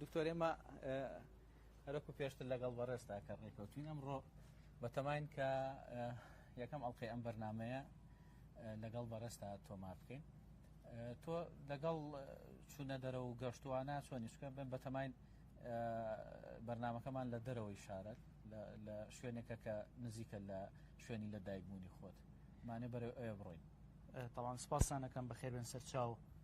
دکتۆر ئێمە هەرەکو پێشتر لەگەڵ بەڕێستا کە ڕێکەوتین ئەمڕۆ بەتەماین کە یەکەم ئەڵلقەی ئەم بەرنمەیە لەگەڵ بەڕێستا تۆما بکەین تۆ لەگەڵ چوونە دەرە و گەشتوانە چۆنی چکە بن بەتەماین بەرنمەکەمان لە دەرەوەی شارەت لە شوێنێکە کە نزیکە لە شوێنی لە دایکبوونی خۆت مانێ بەرە ئەوێ بڕۆین تاوان سپاسانەکەم بەخێربێن سەرچاو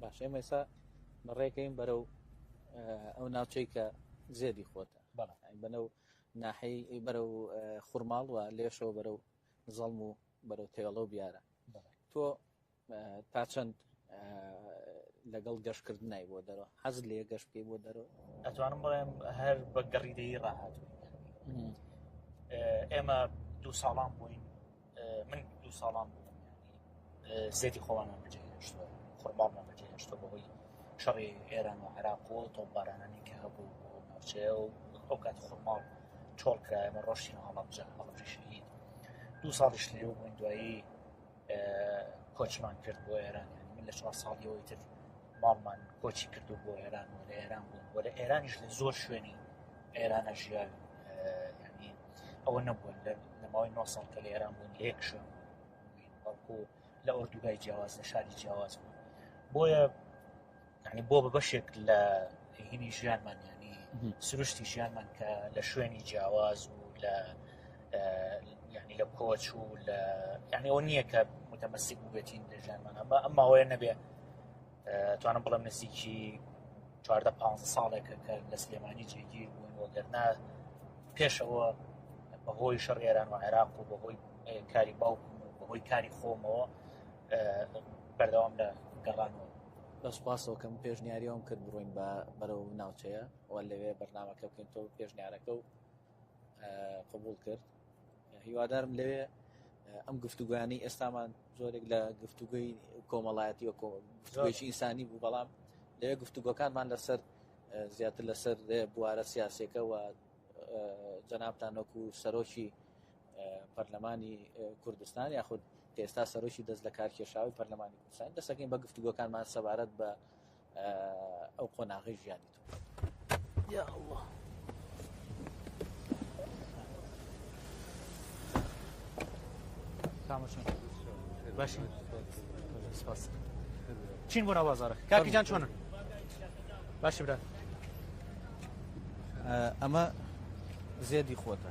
باش ئێمە ئێستا بەڕێکەین بەرەو ئەو ناوچەی کە زێدی خۆتە بەنە و ناحی بەرە و خورماڵ و لێشەوە بەرە و زەڵم و بەرەو تێڵە و بیارە تۆ تا چەند لەگەڵ گەشت کردنای بۆ دەرەوە حەز لێ گەشت بکەی بۆ دەرەوە ئەتوانم بڵێم هەر بە گەڕی دەی ڕاهات ئێمە دوو ساڵان بووین من دوو ساڵان بووم زێتی خۆوانمان بەجێهێشتوە خۆرباڵمان بەجێهێشتە بەهۆی شەڕی ئێران و عراق و تۆپبارانانی کە هەبوو ناوچەیە و ئەو کات خۆماڵ چۆڵکرایمە ڕۆشتین هەڵبجە هەڵبژی شەهید دوو ساڵیش لێو بووین دوایی کۆچمان کرد بۆ ئێران یعنی من لە چوار ساڵیەوەی تر ماڵمان کۆچی کردو بۆ ئێران و لە ئێران بوون بۆ لە ئێرانیش لە زۆر شوێنی ئێرانە ژیاوی ینی ئەوە نەبووە لە ماوەی نۆ ساڵ کە لە ئێران بوون لە یەک شوێن بەڵکو لە ئۆردوگای جیاواز لە شاری جیاواز بوون بۆیە یعنی بۆ بە بەشێک لە هینی ژیانمان ینی سروشتی ژیانمان کە لە شوێنی جیاواز و لە ینی لە کۆچ و لە یعنی ئەو نییە کە متەمەسیک بێتین لە ژیانمان ئەمە ئەم ماوەیە نەبێ توانم بڵم نزیکی چواردە پ ساڵێکە کە لە سلێمانی جێگیر بوون وەگەرنا پێشەوە بەهۆی شەڕ ئێران و عێراق و بەهۆی کاری باوکم و بەهۆی کاری خۆمەوە بەردەوام لە گەڕانەوە بەس پاسەوە کەم پێشنیاریەوەم کرد بڕۆین بە بەرەو ناوچەیە و لەوێ بەرنمەکە بکەین تۆ پێشنیارەکە و قبول کرد هیوادارم لەوێ ئەم گفتوگویانی ئێستامان زۆرێک لە گفتوگوی کۆمەڵایەتی و گفتگوێکی ئینسانی بوو بەڵام لەوێ گفتوگۆکانمان لەسەر زیاتر لەسەر بوارە سیاسەکە و جەنابتان وەکو سەرۆکی پەرلەمانی کوردستان یاخود کە ئێستا سەرۆکی دەست لە کارکێشاوی پەرلەمانی کوردستان دەسەکەین بە گفتوگۆکانمان سەبارەت بە ئەو قۆناغی ژیانی تو یا الله باش چین بۆ ناوازارە کاکیجان چۆنە باش برا ئەمە زێدی خۆتە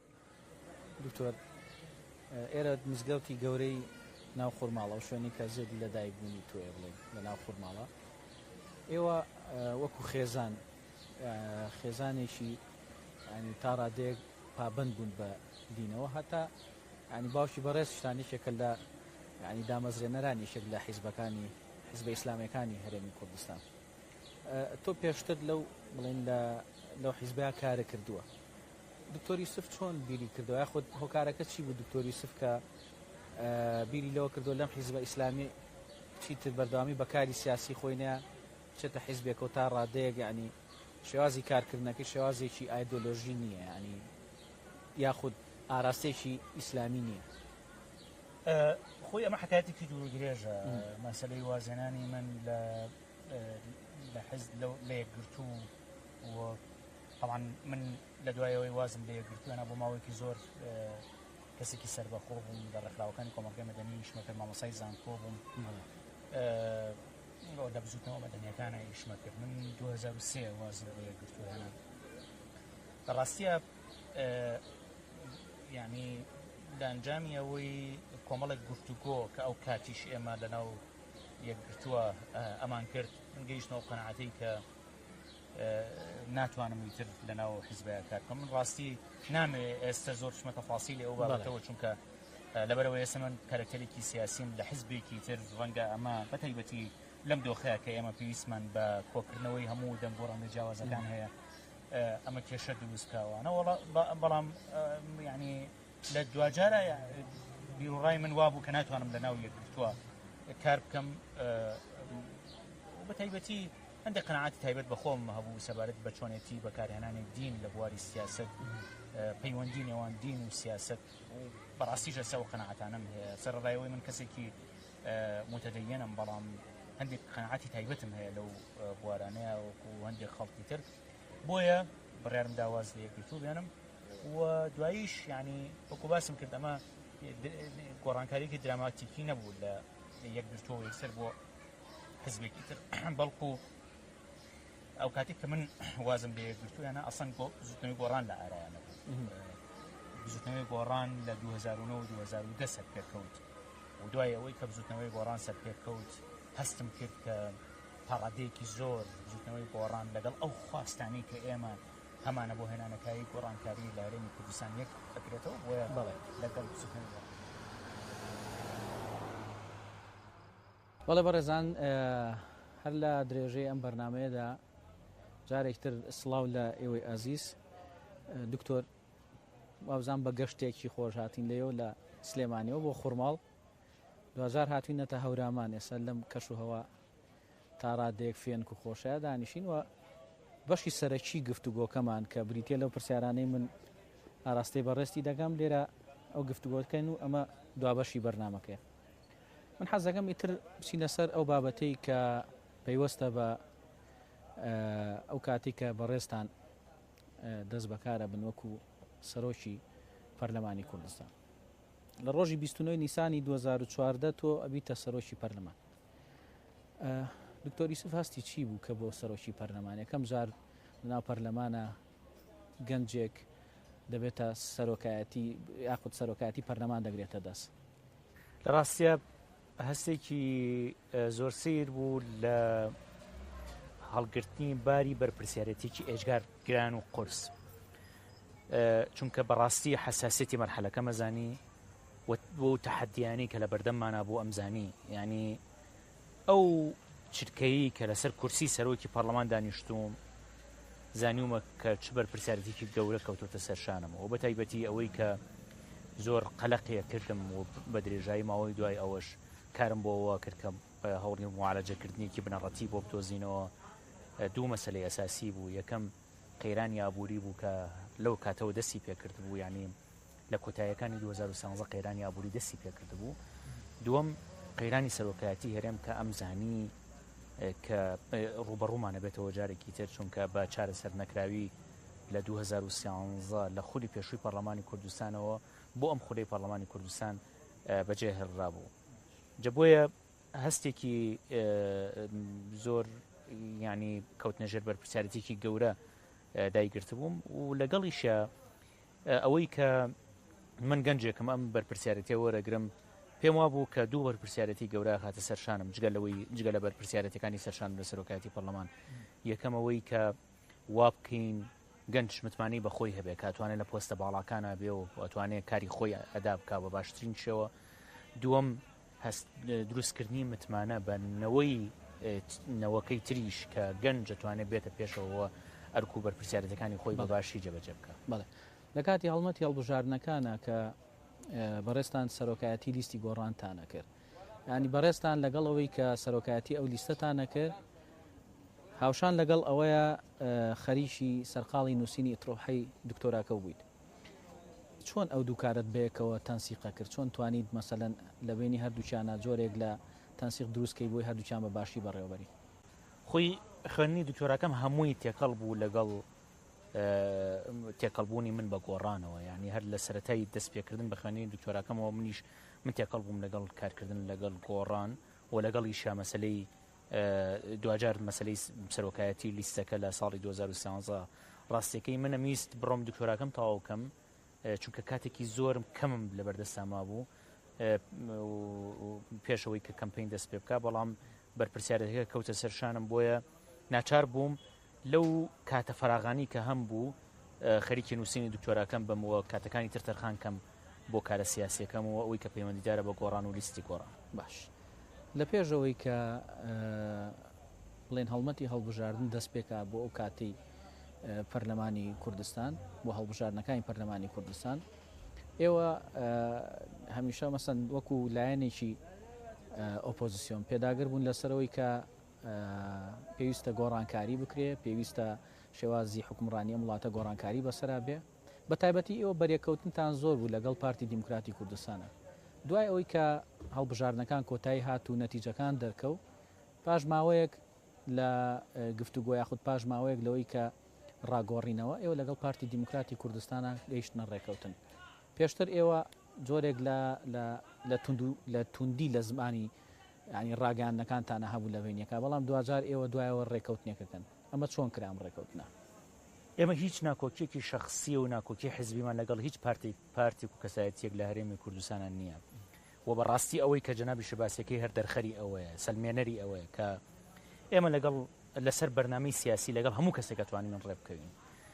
دکتۆر ئێرە مزگەوتی گەورەی ناو خورماڵە و شوێنی کە زێدی لە دایک بوونی تۆێ بڵێن لە ناو خورماڵە ئێوە وەکو خێزان خێزانێکی ینی تا ڕادێک پابند بوون بە دینەوە هەتا ینی باوکی بەڕێز شتانی شێکە لە ینی دامەزرێنەرانی شێک لە حیزبەکانی حزب ئیسلامەکانی هەرێمی کوردستان تۆ پێشتر لەو بڵین لە لەو حیزبیا کارە کردووە دکتۆر یوسف چۆن بیری کردەوە یاخود هۆکارەکە چی بوو دکتۆر یوسف کە بیری لەوە کردو لەم حیزبە ئیسلامی چیتر بەردەوامی بەکاری سیاسی خۆی نە چێتە حیزبێکەوە تا ڕادەیەک ینی شێوازی کارکردنەکە شێوازێکی ئایدۆلۆژی نییە ینی یاخود ئاراستێکی ئیسلامی نییە خۆی ئەمە حکاتێکی دوور درێژە مەسلەی وازێنانی من لە لە حز لە یەکگرتوو و تەبعەن من لە دوای ئەوەی وازم لێ گرتووەە بۆ ماوەیەکی زۆر کەسێکی سربەخۆ بووم لە ڕێکخراوەکانی کۆمەڵگەی مەدەنی شمەکرد مامۆسای زانکۆ بووم ئەو لە بزوتنەوە مەدەنیەکانە ئیشمە کرد من 2023 وازم لێ گرتووەە لە ڕاستە ینی لە ئەنجامی ئەوەی کۆمەڵێک گفتوگۆ کە ئەو کاتیش ئێمە لەناو یەکگرتووە ئەمان کرد من گەیشتەوە قەنعاتەی کە ناتوانم ویتر لەناو حزبەیە کار بکەم من ڕاستی نامێ ئێستا زۆر شمە تەفاسی لە ئەو بابەتەوە چونکە لەبەرەوە ئێستا من کارکتەرێکی سیاسیم لە حزبێکی تر ڕەنگە ئەمە بەتەیبەتی لەم دۆخەیە کە ئێمە پێویستمان بە کۆکردنەوەی هەموو دەنگۆ ڕەنگە جیاوازەکان هەیە ئەمە کێشە دروستکەوەەوەڵ بەڵام ینی لە دوجارە بیرڕای من وابوو کە ناتوانم لە ناو یەکگرتووە کار بکەم بەتەیبەتی هەندێک قەناعەتی تایبەت بە خۆم هەبوو سەبارەت بە چۆنێتی بەکارهێنانی دین لە بواری سیاست پەیوەندی نێوان دین و سیاست و بەڕاستیش ئەسا و قەنەعاتانم هەیە سەرڕایەوەی من کەسێکی متدەیەنم بەڵام هەندێک قەنەعاتی تایبەتم هەیە لەو بوارانەیە وەکو هەندێک خەڵکی تر بۆیە بڕارم داواز لە یەکگرتوو بێنم و دواییش ینی وەکو باسم کرد ئەمە گۆڕانکاریکی دراماتیکی نەبوو لە یەکگرتووە یەکسەر بۆ حزبێکی تر بەڵکو ئەو کاتێک کە من وازم لێ گرتویانە ئەسەن گۆ زوتنەوەی گۆڕان لە ئارایانە بزوتنەوەی گۆڕان لە 2009 2010 سەر پێکەوت و دوای ئەوەی کە بزوتنەوەی گۆڕان سەر پێکەوت هەستم کرد کە پاڕادەیەکی زۆر بزوتنەوەی گۆڕان لەگەڵ ئەو خواستانی کە ئێمە هەمانە بۆ هێنانەکاری گۆڕانکاری لە هەرێمی کوردستان یەک ئەکرێتەوە بۆیە بڵێ لەگەڵ بزوتنەوەی گۆڕان بەڵێ بەڕێزان هەر لە درێژەی ئەم بەرنمەیەدا جارێکتر سلااو لە ئێوەی ئازیز دکتۆر وابزان بە گەشتێکی خۆش هاتین لەەوە لە سلێمانەوە بۆ خورماڵ دوجار هاتوینەتە هەورامان ئێستا لەم کەش و هەوا تاڕادێک فێنک و خۆشە دانیشین و بەشی سەرەکی گفت و گۆکەمان کە بریتە لەو پرسیارانەی من ئاراستەی بەڕێستی دەگەم لێرە ئەو گفتوگۆتکەن و ئەمە دوابەشی بەرنمەکەی من حەز دەکەم ئیتر بچینە سەر ئەو بابەتەی کە پەیوەستە بە ئەو کاتی کە بەڕێزتان دەست بەکارە بن وەکو سەرۆکی پەرلەمانی کوردستان لە ڕۆژی 29 نیسانی 2014 تۆ ئەبیتە سەرۆکی پەرلەمان دکتۆری سف هەستی چی بوو کە بۆ سەرۆکی پەرلەمان یەکەم جار لەناو پەرلەمانە گەنجێک دەبێتە سەرۆکایەتی یاخود سەرۆکایەتی پەرلەمان دەگرێتە دەست لە ڕاستیا هەستێکی زۆر سیر بوو لە هەڵگرتنی باری بەرپرسیارەتێکی ئێجگار گران و قرس چونکە بەڕاستی حساسێتی مەرحەلەکە مەزانی بۆ تەحەدیانی کە لە بەردەممانە بۆ ئەمزانی ینی ئەو چرکەیەی کە لەسەر کورسی سەرۆکی پەڕلەمان دانیشتووم، زانیومە کە چ بەرپرسیارێتییەکی گەورە کەوتۆتە سەر شانم و بەتایبەتی ئەوەی کە زۆر قەلەقی ئەکردم و بە درێژایی ماوەی دوای ئەوەش کارم بۆ ئەوە کرد کە هەوڵی موعالەجەکردنێکی بنەڕەتی بۆ بدۆزینەوە دوو مەسەلەی ئەساسی بوو، یەکەم قەیرانی ئابووری بوو کە لەو کاتەوە دەستی پێکردبوو یانی لە کۆتاییەکانی دوو هەزار و سیانزە قەیرانی ئابووری دەستی پێکردبوو دووەم قەیرانی سەرۆکایەتی هەرێم کە ئەم زانی کە ڕوبەڕوومانە بێتەوە جارێکی تر چونکە بە چارەسەر نەکراوی لە 2013 لە خودی پێشووی پەرلەمانی کوردستانەوە بۆ ئەم خودەی پەرلەمانی کوردستان بەجێ هێڵرا بوو جە بۆیە هەستێکی زۆر ینی کەوتنەژێر بەرپرسیارەتێکی گەورە دایگرتبووم و لەگەڵیشە ئەوەی کە من گەنجێکم ئەم بەرپرسیارێتیە وەرەگرم، پێم وابوو کە دوو بەرپرسیارێتی گەورە هاتە سەر شانم جگە لەوەی جگە لە بەرپرسیارێتەکانی سەرشان لە سەرۆکایەتی پەرلەمان یەکەمەوەی کە وابکەین گەنج متمانەی بەخۆی هەبێت کاتوانێت لە پۆستە باڵاکانە بێ و ئەتوانێت کاری خۆی ئەدا بک بە باشترین شێوە دووەم هەست دروست کردنی متمانە بە نەوەی نەوەکەی تریش کە گەنج دەتوانێت بێتە پێشەوە ئەرک و بەرپسیارەتەکانی خۆی بە باشی جەبەجە بکە بڵێ لە کاتی هەڵمەتی هەڵبژاردنەکانە کە بەڕێستان سەرۆکایەتی لیستی گۆڕانتانە کرد ینی بەڕێستان لەگەڵ ئەوەی کە سەرۆکایەتی ئەو لیستەتانە کرد هاوشان لەگەڵ ئەوەیە خەریکی سەرقاڵی نووسینی ترۆحی دکتۆراکە بوویت چۆن ئەو دوو کارەت بەیەکەوە تەنسیقە کرد چۆن توانیت مەسەلەن لەبەینی هەردووکیانا جۆرێک لە تەنسیق دروست کەی بۆی هەردووکیان بە باشی بەڕێوەبەری؟ خۆی خوێندنی دکتۆراکەم هەمووی تێکەڵ بوو لەگەڵ تێکەڵ بوونی من بە گۆڕانەوە یعنی هەر لە سەرەتای دەست پێکردن بە خوێندنی دکتۆراکەمەوە منیش من تێکەڵ بووم لەگەڵ کارکردن لەگەڵ گۆڕان و لەگەڵیشا مەسەلەی دواجار مەسەلەی سەرۆکایەتی و لیستەکە لە ساڵی 2013 ڕاستیەکەی منم ویست بڕۆم دکتۆراکەم تەواو کەم چونکە کاتێکی زۆرم کەمم لە بەردەستا مابوو پێشەوەی کە کەمپین دەست پێ بکە بەڵام بەرپسیارەتەکە کەوتە سەرشانم بۆیە ناچار بووم لەو کاتە فەراغانەی کە هەمبوو خەریکی نووسینی دکتۆراکەم بم و کاتەکانی تر تەرخان کەم بۆ کارە سیاسییەکەم و ئەوەی کە پەیوەندیدارە بە گۆڕان و لیستی گۆڕان. باش لە پێش ئەوەی کە بڵێین هەڵمەتی هەڵبژاردن دەست پێکا بۆ ئەو کاتی پەرلەمانی کوردستان بۆ هەڵبژاردنەکانی پەرلەمانی کوردستان ئێوە هەمیشە مەسەن وەکو لایەنێکی ئۆپۆزیسیۆن پێداگر بوون لەسەرەوەی کە پێویستە گۆڕانکاری بکرێ، پێویستە شێوازی حوکمڕانی ئەم وڵاتە گۆڕانکاری بەسەرا بێ. بە تایبەتی ئێوە بەرێکەوتنتان زۆر بوو لەگەڵ پارتی دیموکراتی کوردستانا. دوای ئەوەی کە هەڵبژاردنەکان کۆتایی هات و نەتیجەکان دەرکەو، پاش ماوەیەک لە گفتوگۆ یاخود پاش ماوەیەک لەوەی کە ڕاگۆڕینەوە، ئێوە لەگەڵ پارتی دیموکراتی کوردستانا گەیشتنە ڕێکەوتن. پێشتر ئێوە جۆرێک لە لە لە توندو لە توندی لە زمانی یانی ڕاگەیاندنەکانتانە هەبوو لە بەینەکە بەڵام دواجار ئێوە دوایەوە ڕێکەوتنێک ئەکەن ئەمە چۆن کرا ئەم ڕێکەوتنە؟ ئێمە هیچ ناکۆکیەکی شەخسی و ناکۆکی حزبیمان لەگەڵ هیچ پارتێک پارتێک و کەسایەتیەک لە هەرێمی کوردستانە نییە و بەڕاستی ئەوەی کە جەنابیشە باسیەکەی هەر دەرخەری ئەوەیە سەلمێنەری ئەوەیە کە ئێمە لەگەڵ لەسەر بەرنامەی سیاسی لەگەڵ هەموو کەسێک ئەتوانین ڕێبکەوین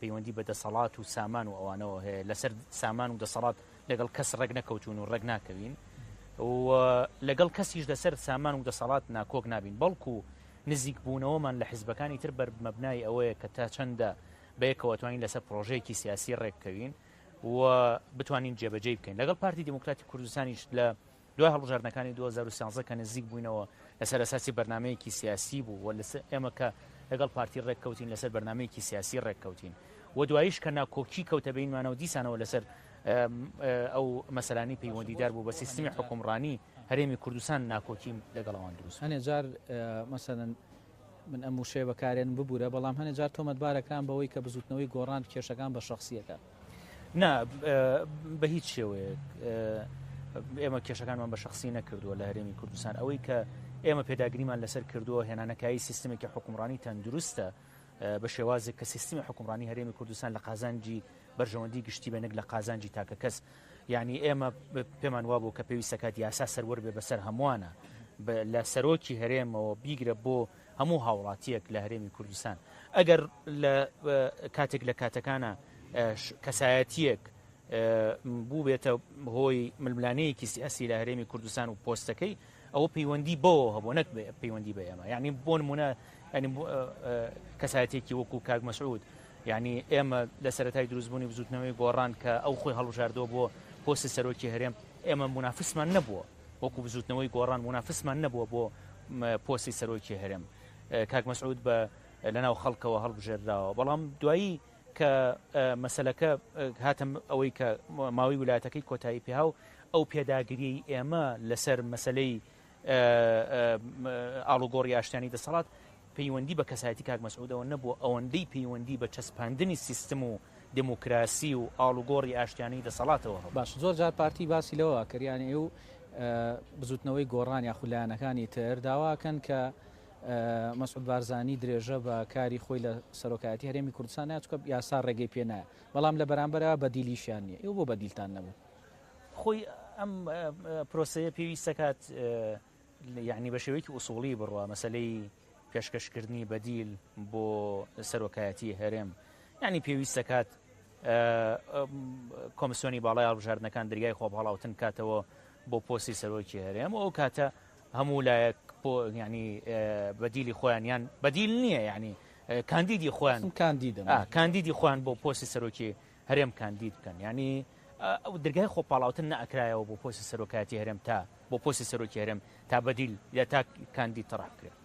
پەیوەندی بە دەسەڵات و سامان و ئەوانەوە هەیە، لەسەر سامان و دەسەڵات لەگەڵ کەس ڕێک نەکەوتوون و ڕێک ناکەوین و لەگەڵ کەسیش لەسەر سامان و دەسەڵات ناکۆک نابین، بەڵکو نزیکبوونەوەمان لە حزبەکانی تر بەر مەبنای ئەوەیە کە تا چەندە بەیەکەوە توانین لەسەر پڕۆژەیەکی سیاسی ڕێک بکەوین و بتوانین جێبەجێی بکەین، لەگەڵ پارتی دیموکراتی کوردستانیش لە دوای هەڵبژاردنەکانی دوو هەزار و سیانزە کە نزیک بووینەوە لەسەر ئەساسی بەرنامەیەکی سیاسی بوو و ئێمە کە لەگەڵ پارتی ڕێککەوتین لەسەر بەرنمەیەکی سیاسی ڕێککەوتین و دوایش کە ناکۆکی کەوتە بینمانەوە دیسانەوە لەسەر ئەو مەسەلانی پەیوەندیدار بوو بە سیستمی حکومڕانی هەرێمی کوردستان ناکۆکیم لەگەڵەوان دروست هەنێ جار مەسەن من ئەم وشەیە بەکارێن ببوورە بەڵام هەنێ جار تۆمەتبارەکان بەوەی کە بزوتنەوەی گۆڕان کێشەکان بە شخصیەکە نا بە هیچ شێوەیەک ئێمە کێشەکانمان بە شخصی نەکردووە لە هەرێمی کوردستان ئەوەی کە ئێمە پێداگریمان لەسەر کردووە هێنانەکایی سیستمێکی حکومڕانی تەندروستە بە شێوازێک کە سیستمی حکومڕانی هەرێمی کوردستان لە قازانجی بەرژەوەندی گشتی بەنێک لە قازانجی تاکە کەس یعنی ئێمە پێمان وابوو کە پێویستەکات یاسا سەروەر بێ بەسەر هەمووانە لە سەرۆکی هەرێمەوە بیگرە بۆ هەموو هاوڵاتیەک لە هەرێمی کوردستان ئەگەر لە کاتێک لە کاتەکانە کەسایەتیەک بوو بێتە هۆی ململانەیەکی سیاسی لە هەرێمی کوردستان و پۆستەکەی ئەوە پەیوەندی بەوە هەبوو نەک پەیوەندی بە ئێمە یعنی بۆ نمونە ینی کەسایەتێکی وەکو کاک مەسعود یعنی ئێمە لە سەرای دروستبوونی بزوتنەوەی گۆڕان کە ئەو خۆی هەڵبژاردۆ بۆ پۆستی سەرۆکی هەرێم ئێمە منافسمان نەبووە وەکو بزوتنەوەی گۆڕان مونافسمان نەبووە بۆ پۆستی سەرۆکی هەرێم کاک مەسعود بە لەناو خەڵکەوە هەڵبژێردراوە بەڵام دوایی کە مەسلەکە هاتم ئەوەی کە ماوەی ولاتەکەی کۆتایی پێها و ئەو پێداگریی ئێمە لەسەر مەسلەی ئاڵوگۆڕی ئاشتانی دەسەڵات پەیوەندی بە کەسایەتی کاک مەسعودەوە نەبووە ئەوەندەی پەیوەندی بە چەسپاندنی سیستم و دێموکراسی و ئاڵوگۆڕی ئاشتیانەی دەسەڵاتەوە هەبوو. باشە زۆر جار پارتی باسی لەوە ئەکرد یانی ئێو بزوتنەوەی گۆڕان یاخود لایەنەکانی تر داوا ئەکەن کە مەسعود بارزانی درێژە بە کاری خۆی لە سەرۆکایەتی هەرێمی کوردستان نایە چونکە یاسا ڕێگەی پێ نایە بەڵام لە بەرامبەرەوە بەدیلیشیان نییە ئێو بۆ بەدیلتان نەبوو؟ خۆی ئەم پرۆسەیە پێویست ئەکات یەعنی بەشێوەیەکی ئوسوڵی بڕوا مەسەلەی پێشکەشکردنی بەدیل بۆ سەرۆکایەتی هەرێم یعنی پێویست دەکات کۆمسیۆنی باڵای هەڵبژاردنەکان دەریای خۆ هەڵاوتن کاتەوە بۆ پۆسی سەرۆکی هەرێم ئەو کاتە هەموو لایەک ینی بەدیلی خۆیان یان بەدیل نییە ینی کاندیدی خۆیان کاندیدە کاندیدی خۆیان بۆ پۆسی سەرۆکی هەرێم کاندید بکەن یانی ئەو درگای خۆ پاڵاوتن نەکرایەوە بۆ پۆسی سەرۆکایەتی هەرێم تا بۆ پۆسی سەرۆکی هەرێم تا بەدیل یا تا کاندید تەڕح بکرێت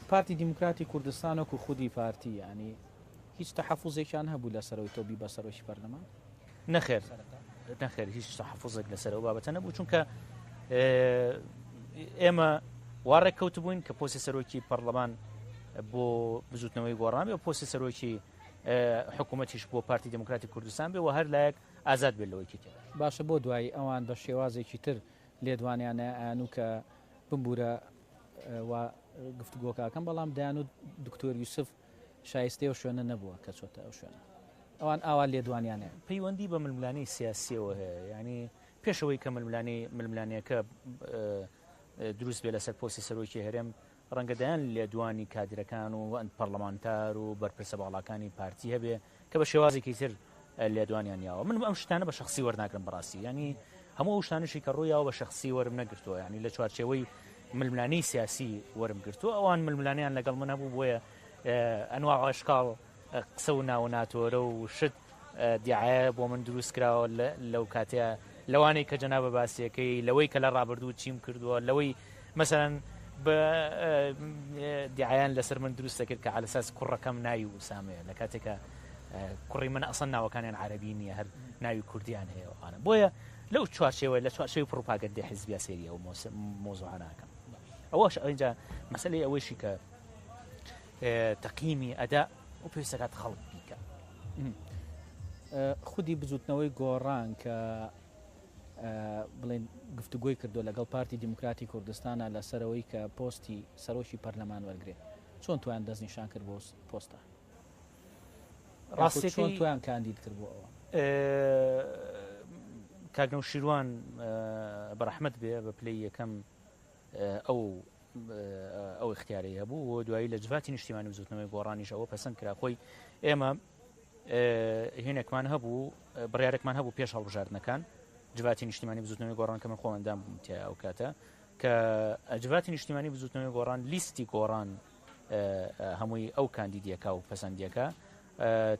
پارتی دیموکراتی کوردستانۆک و خودی پارتی ینی هیچ تەحەفوزێکیان هەبوو لە سەرەوەی تۆبی بە سەرۆکی پەرلەمان نەخێر نەخێر هیچ تەحەفوزێک لەسەر ئەو بابەتە نەبوو چونکە ئێمە واڕێک کەوت بووین کە پۆسی سەرۆکی پەرلەمان بۆ بزوتنەوەی گۆڕامی و پۆسی سەرۆکی حکومەتیش بۆ پارتی دیموکراتی کوردستان بێ و هەر لایەک ئازاد بێت لەوەی تێ دەگات. باشە بۆ دوایی ئەوان بە شێوازێکی تر لێدوانیان نایانوو کە بمبوورە وا گفتوگۆکاکەم بەڵام دەیانوت دکتۆر یوسف شایستەی ئەو شوێنە نەبووە کە چۆتە ئەو شوێنە ئەوان ئاوا لێدوانیانە پەیوەندی بە ململانی سیاسیەوە هەیە ینی پێشەوەی کە ململانی ململانەکە دروست بێ لەسەر پۆسی سەرۆکی هەرێم ڕەنگە دەیان لێدوانی کادرەکان و پەڕلەمانتار و بەرپرسە باڵاکانی پارتی هەبێ کە بە شێوازێکی تر لێدوانیان یاوە من ئەم شتانە بە شخصی وەرناگرم بەڕاستی ینی هەموو ئەو شتانشی کە ڕوویەوە بە شخصی وەرم نەگرتووە ینی لە چوارچەوەی ململانەی سیاسی وەرم گرتووە ئەوان ململانیان لەگەڵ من هەبوو بۆیە ئەنوا عشقال قسە و ناوە ناتۆرە و شت دیعایە بۆ من دروست کراوە لەو کاتەیە لەوانەی کە جەنابە باسیەکەی لەوەی کە لە ڕابردوو چیم کردووە لەوەی مەسەرەن بە دیعایان لەسەر من دروست دەکرد کە ئالەساس کوڕەکەم ناوی و سامەیە لە کاتێکە کوڕی من ئەسەن ناوەکانیان عربی نییە هەر ناوی کوردیان هەیە ئەوانە بۆیە لەو چوارچێوە لە چوارچەوی پڕوپاگەندی حزبیا سێریە و مۆزۆهاناکەم ئەوەش ئەوینجا مەسلەی ئەوەیشی کە تەقینی ئەدا و پێویستە کات خەڵک بیکە خودی بزوتنەوەی گۆڕان کە بڵێن گفتوگۆی کردو لەگەڵ پارتی دیموکراتی کوردستانە لەسەرەوەی کە پۆستی سەرۆکی پەرلەمان وەرگێ چۆن توان دەست نیشان کرد بۆ پۆستە ڕاستی چۆن توان کاندید کرد بۆ ئەوە کاگنەو شیروان بەرەحمت بێ بە پلی یەکەم ئەو ئەو اختیارەی هەبوو و دوایی لە جڤاتی نیشتیمانی بزوتنەوەی گۆڕانیش ئەوە پەسەند کرا خۆی ئێمە هێنێکمان هەبوو بڕارێکمان هەبوو پێش هەڵبژاردنەکان جڤاتی نیشتیمانی بزوتنەوەی گۆڕان کە من خۆمەندام بووم تیا ئەو کاتە کە ئەجڤاتی نیشتیمانی بزوتنەوەی گۆڕان لیستی گۆڕان هەمووی ئەو کاندیدیەکە و پەسەندیەکە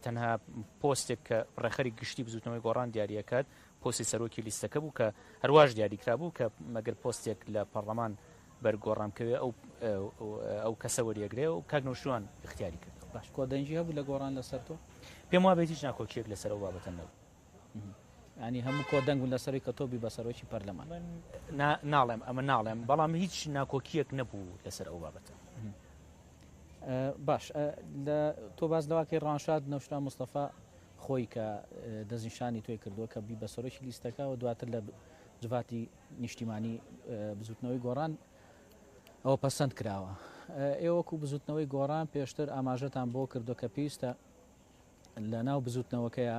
تەنها پۆستێک کە ڕێخەری گشتی بزوتنەوەی گۆڕان دیارەکەات پۆستی سەرۆکی لیستەکە بوو کە هەرواش دیاری کرابوو کە مەگەر پۆستێک لە پەڕڵەمان بەر گۆڕان بکەوێ ئەو ئەو کەسە وەریەگرێ و کاک نەوشیروان ئیختیاری کردەوە. باش کۆدەنگی هەبوو لە گۆڕان لەسەر تۆ؟ پێم وابێت هیچ ناکۆکیەک لەسەر ئەو بابەتە نەبوو. یانی هەموو کۆدەنگ بوون لەسەر ئەوەی کە تۆ بی بە سەرۆکی پەرلەمان؟ من ناڵێم ئەمە ناڵێم بەڵام هیچ ناکۆکیەک نەبوو لەسەر ئەو بابەتە. باش تۆ باس لەوە کەی ڕەوانشاد نەوشیروان مستەفا خۆی کە دەستنیشانی تۆی کردووە کە بی بە سەرۆکی لیستەکە و دواتر لە جڤاتی نیشتیمانی بزوتنەوەی گۆڕان ئەوە پەسەند کراوە ئێوەکو بزوتنەوەی گۆڕان پێشتر ئاماژەتان بۆ کردو کە پێویستە لە ناو بزوتنەوەکەیە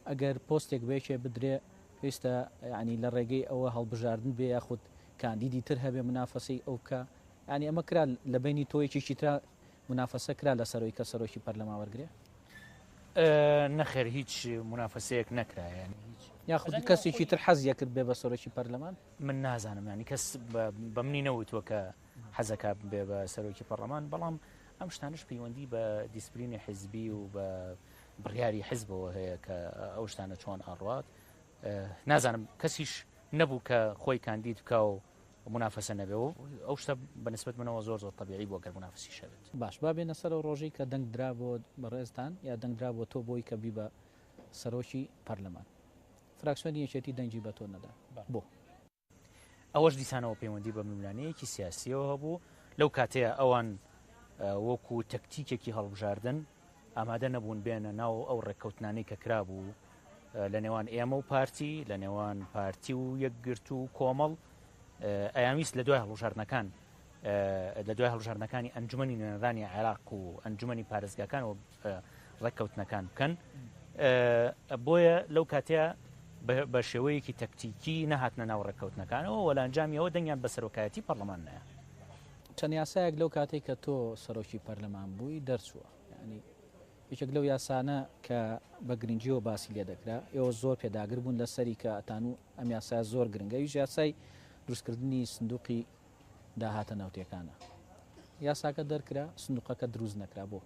ئەگەر پۆستێک بێکێ بدرێ پێویستە ینی لە ڕێگەی ئەوە هەڵبژاردن بێ یاخود کاندیدی تر هەبێ منافەسی ئەو بکە ینی ئەمە کرا لە بینی تۆیەکیی تررا منافەسە کرا لەسەرەوەی کە سەرۆکی پەرلەمان وەرگرێ؟ نەخێر هیچ منافەسەیەک نەکرا ینی هیچ یاخود کەسێکی تر حەز یەکرد بێ بە سەرۆکی پەرلەمان من نازانم ینی کەس بە منی نەوتوە کە حەزەکە بێ بە سەرۆکی پەرلەمان بەڵام ئەم شتانش پەیوەندی بە دیسپلینی حزبی و بە بڕیاری حزبەوە هەیە کە ئەو شتانە چۆن ئاڕات نازانم کەسیش نەبوو کە خۆی کاندید بکە و مونافەسە نەبێ و ئەو شتە بە نسبەت منەوە زۆر زۆر تەبیعی بووە گەر مونافەسیش هەبێت. باش با بێنە سەر ئەو ڕۆژەی کە دەنگ درا بۆ بەڕێزتان یا دەنگ درا بۆ تۆ بۆی کە بیبە سەرۆکی پەرلەمان فراکسیۆنی یەکێتی دەنگی بە تۆ نەدا بۆ؟ ئەوەش دیسانەوە پەیوەندی بە ململانێیەکی سیاسییەوە هەبوو لەو کاتەیە ئەوان وەکوو تەکتیکێکی هەڵبژاردن، ئامادە نەبوون بێنە ناو ئەو ڕێککەوتنانەی کە کرابوو لە نێوان ئێمە و پارتی لە نێوان پارتی و یەکگرت و کۆمەڵ ئەیانویست لە دوای هەڵوژاردنەکان لە دوای هەڵژاردنەکانی ئەنجومی نوێنەرانی عێراق و ئەنجومی پارێزگاکان و ڕێککەوتنەکان بکەن بۆیە لەو کاتەیە بە شێوەیەکی تەکتیکی نەهاتنە ناو ڕێککەوتنەکانەوە وەلانجامیەوە دەنگیان بە سەرۆکایەتی پەرلەمان نایە چەند یاسایەک لەو کاتەی کە تۆ سەرۆکی پەرلەمان بووی دەرچووە، یانی یەکێک لەو یاسانە کە بە گرنگیەوە باسی لێ دەکرا، ئێوە زۆر پێداگر بوون لەسەری کە ئەتانوو ئەم یاسایە زۆر گرنگە، ئەویش یاسای دروستکردنی سندوقی داهاتە نەوتیەکانە. یاساکە دەرکرا، سندوقەکە دروست نەکرا، بۆ؟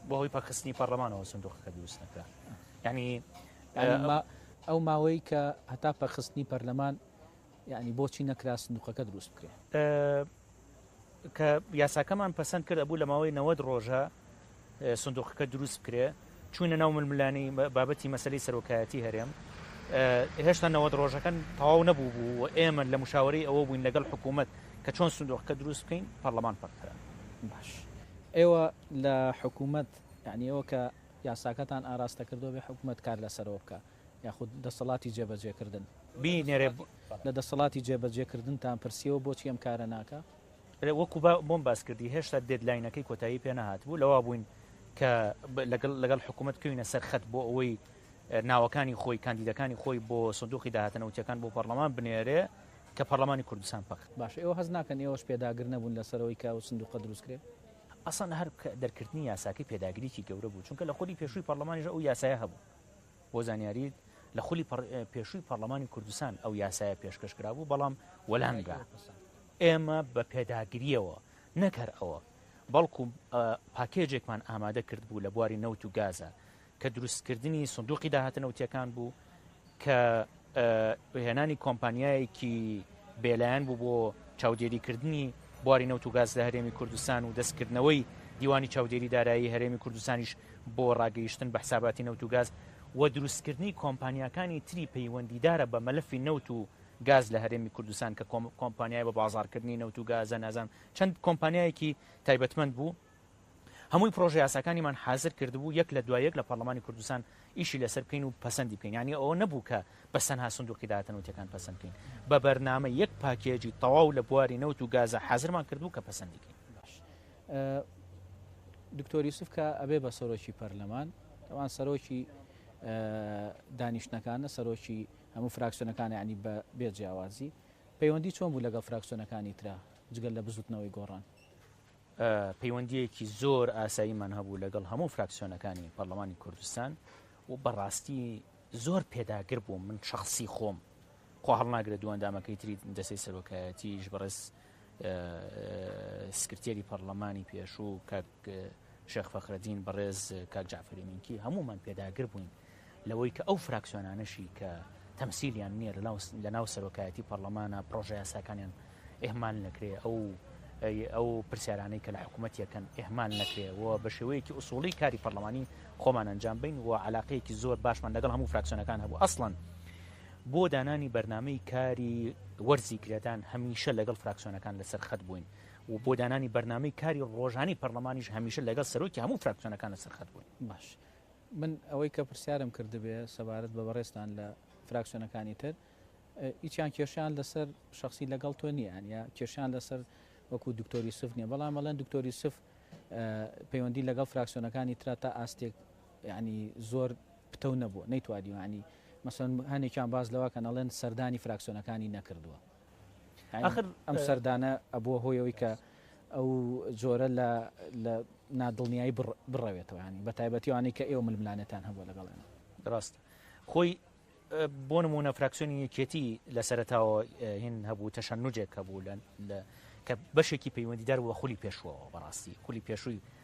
بە هۆی پەکخستنی پەرلەمانەوە سندوقەکە دروست نەکرا، یانی ئەو ماوەی کە هەتا پەکخستنی پەرلەمان یەعنی بۆچی نەکرا سندوقەکە دروست بکرێ؟ ئە کە یاساکەمان پەسەند کرد ئەبوو لەماوەی نەوەد ڕۆژە سندوقەکە دروست بکرێ چوینە ناو ململانی بابەتی مەسەلەی سەرۆکایەتی هەرێم هێشتا نەوەد ڕۆژەکەن تەواو نەبوو بوو و ئێمە لە مشاوەرەی ئەوە بووین لەگەڵ حکوومەت کە چۆن سندوقەکە دروست بکەین پەرلەمان پەککرا. باش ئێوە لە حکوومەت یەعنی ئێوە کە یاساکەتان ئاراستە کردووە بێ حکوومەت کار لەسەرەوە بکا یاخود دەسەڵاتی جێبەجێکردن. بینێرێ لە دەسەڵاتی جێبەجێکردنتان پرسیەوە بۆچی ئەم کارە ناکا؟ وەکو بۆم باس کردی هێشتا دێدلاینەکەی کۆتایی پێ نەهاتبوو لەوا بووین کە لەگەڵ لەگەڵ حکوومەت بکەوینە سەر خەت بۆ ئەوەی ناوەکانی خۆی کاندیدەکانی خۆی بۆ سندوقی داهاتنەوتیەکان بۆ پەرلەمان بنێرێ کە پەرلەمانی کوردستان پەک باش ئێوە هەز ناکەن ئێوەش پێداگر نەبوون لەسەرەوەی کە و سندوقە دروستکرێت ئەسان هەر دەرکردنی یاساکەی پێداگریی گەورە بوو چونکە لە خودی پێشووی پەرلەمانیش ئەو یاسایە هەبوو بۆ زانیاریت لە خولی پێشووی پەرلەمانی کوردستان ئەو یاسایە پێشکەش کرابوو بەڵام وەلامرا ئێمە بە پێداگریەوە نەکەر ئەوە بەڵکو پاکێجێکمان ئامادە کرد بوو لە بواری نەوت و گازە کە دروستکردنی سندوقی داهاتنەوتیەکان بوو کە هێنانی کۆمپانیایەکی بێلایەن بوو بۆ چاودێریکردنی بواری نەوت و گاز لە هەرێمی کوردستان و دەستکردنەوەی دیوانی چاودێری دارایی هەرێمی کوردستانیش بۆ ڕاگەیشتن بە حساباتی نەوت و گاز و دروستکردنی کۆمپانیاکانی تری پەیوەندیدارە بە مەلەفی نەوت و گاز لە هەرێمی کوردستان کە کۆمپانیای بە بازاڕکردنی نەوت و گازە نازانم چەند کۆمپانیایەکی تایبەتمەند بوو هەمووی پرۆژە یاساکانیمان حازر کردبوو یەک لە دوای یەک لە پارلمانی کوردستان ئیشی لەسەر بکەین و پەسەندی بکەین یانی ئەوە نەبوو کە بەس تەنها سندوقی داهاتە نەوتیەکان پەسەند بکەین بە بەرنامە یەک پاکێجی تەواو لە بواری نەوت و گازە حازرمان کردبوو کە پەسەندی کەین باش دکتۆر یوسف کە ئەبێ بە سەرۆکی پەرلەمان ئەوان سەرۆکی دانیشتەکانە سەرۆکی هەموو فراکسیۆنەکان ینی بە بێ جیاوازی پەیوەندی چۆن بوو لەگەڵ فراکسیۆنەکانی ترا جگەل لە بزوتنەوەی گۆڕان پەیوەندییەکی زۆر ئاساییمان هەبوو لەگەڵ هەموو فراکسیۆنەکانی پەرلەمانی کوردستان و بەڕاستی زۆر پێداگر بووم من شخصی خۆم خۆ هەڵناگرێت دوو ئەندامەکەی تری دەسەی سەرۆکایەتیش بەڕێز سکرتێری پەرلەمانی پێشوو کاک شێخ فەخرەدین بەڕێز کاک جعفری مینکی هەمومان پێداگر بووین لەوەی کە ئەو فراکسیۆنانەشی کە تەمسیلیان نیە لەناو سەرۆکایەتی پەڕلەمانا پڕۆژە یاساکانیان ئێهمال نەکرێ ئەو ئەو پرسیارانەی کە لە حکوومەت یەکەن ئێهمال نەکرێ و بە شێوەیەکی ئوسوڵی کاری پەرلەمانی خۆمان ئەنجام بین و علاقەیەکی زۆر باشمان لەگەڵ هەموو فراکسیۆنەکان هەبوو ئەسڵەن بۆ دانانی بەرنمەی کاری وەرزی گرێدان هەمیشە لەگەڵ فراکسیۆنەکان لەسەر خەت بووین و بۆ دانانی بەرنمەی کاری ڕۆژانی پەرلەمانیش هەمیشە لەگەڵ سەرۆکی هەموو فراکسیۆنەکان لەسەر خەت بووین باش من ئەوەی کە پرسیارم کردبێ سەبارەت بە بەڕێزتان لە فراکسیۆنەکانی تر هیچیان کێشیان لەسەر شخصی لەگەڵ تۆ نییان یا کێشیان لەسەر وەکو دکتۆر یوسف نییە بەڵام ئەڵێن دکتۆر یوسف پەیوەندی لەگەڵ فراکسیۆنەکانی ترا تا ئاستێک ینی زۆر پتەو نەبووە نەیتوادیوانی مەسەن هەنێکیان باز لەوەکەن ئەڵێن سەردانی فراکسیۆنەکانی نەکردووە ئاخر ئەم سەردانە ئەبووە هۆی ئەوی کە ئەو جۆرە لە لە نادڵنیایی بڕەوێتەوە ینی بە تایبەتیوانەی کە ئێوە ململانێتان هەبووە لەگەڵێن ڕاست خۆی بۆ نمونە فراکسیۆنی یەکێتی لە سەرتاوە هین هەبوو تەشەن نوجێک هەبوو لە کە بەشێکی پەیوەندیدار بووە خولی پێشوەوە بەڕاستی خولی پێشووی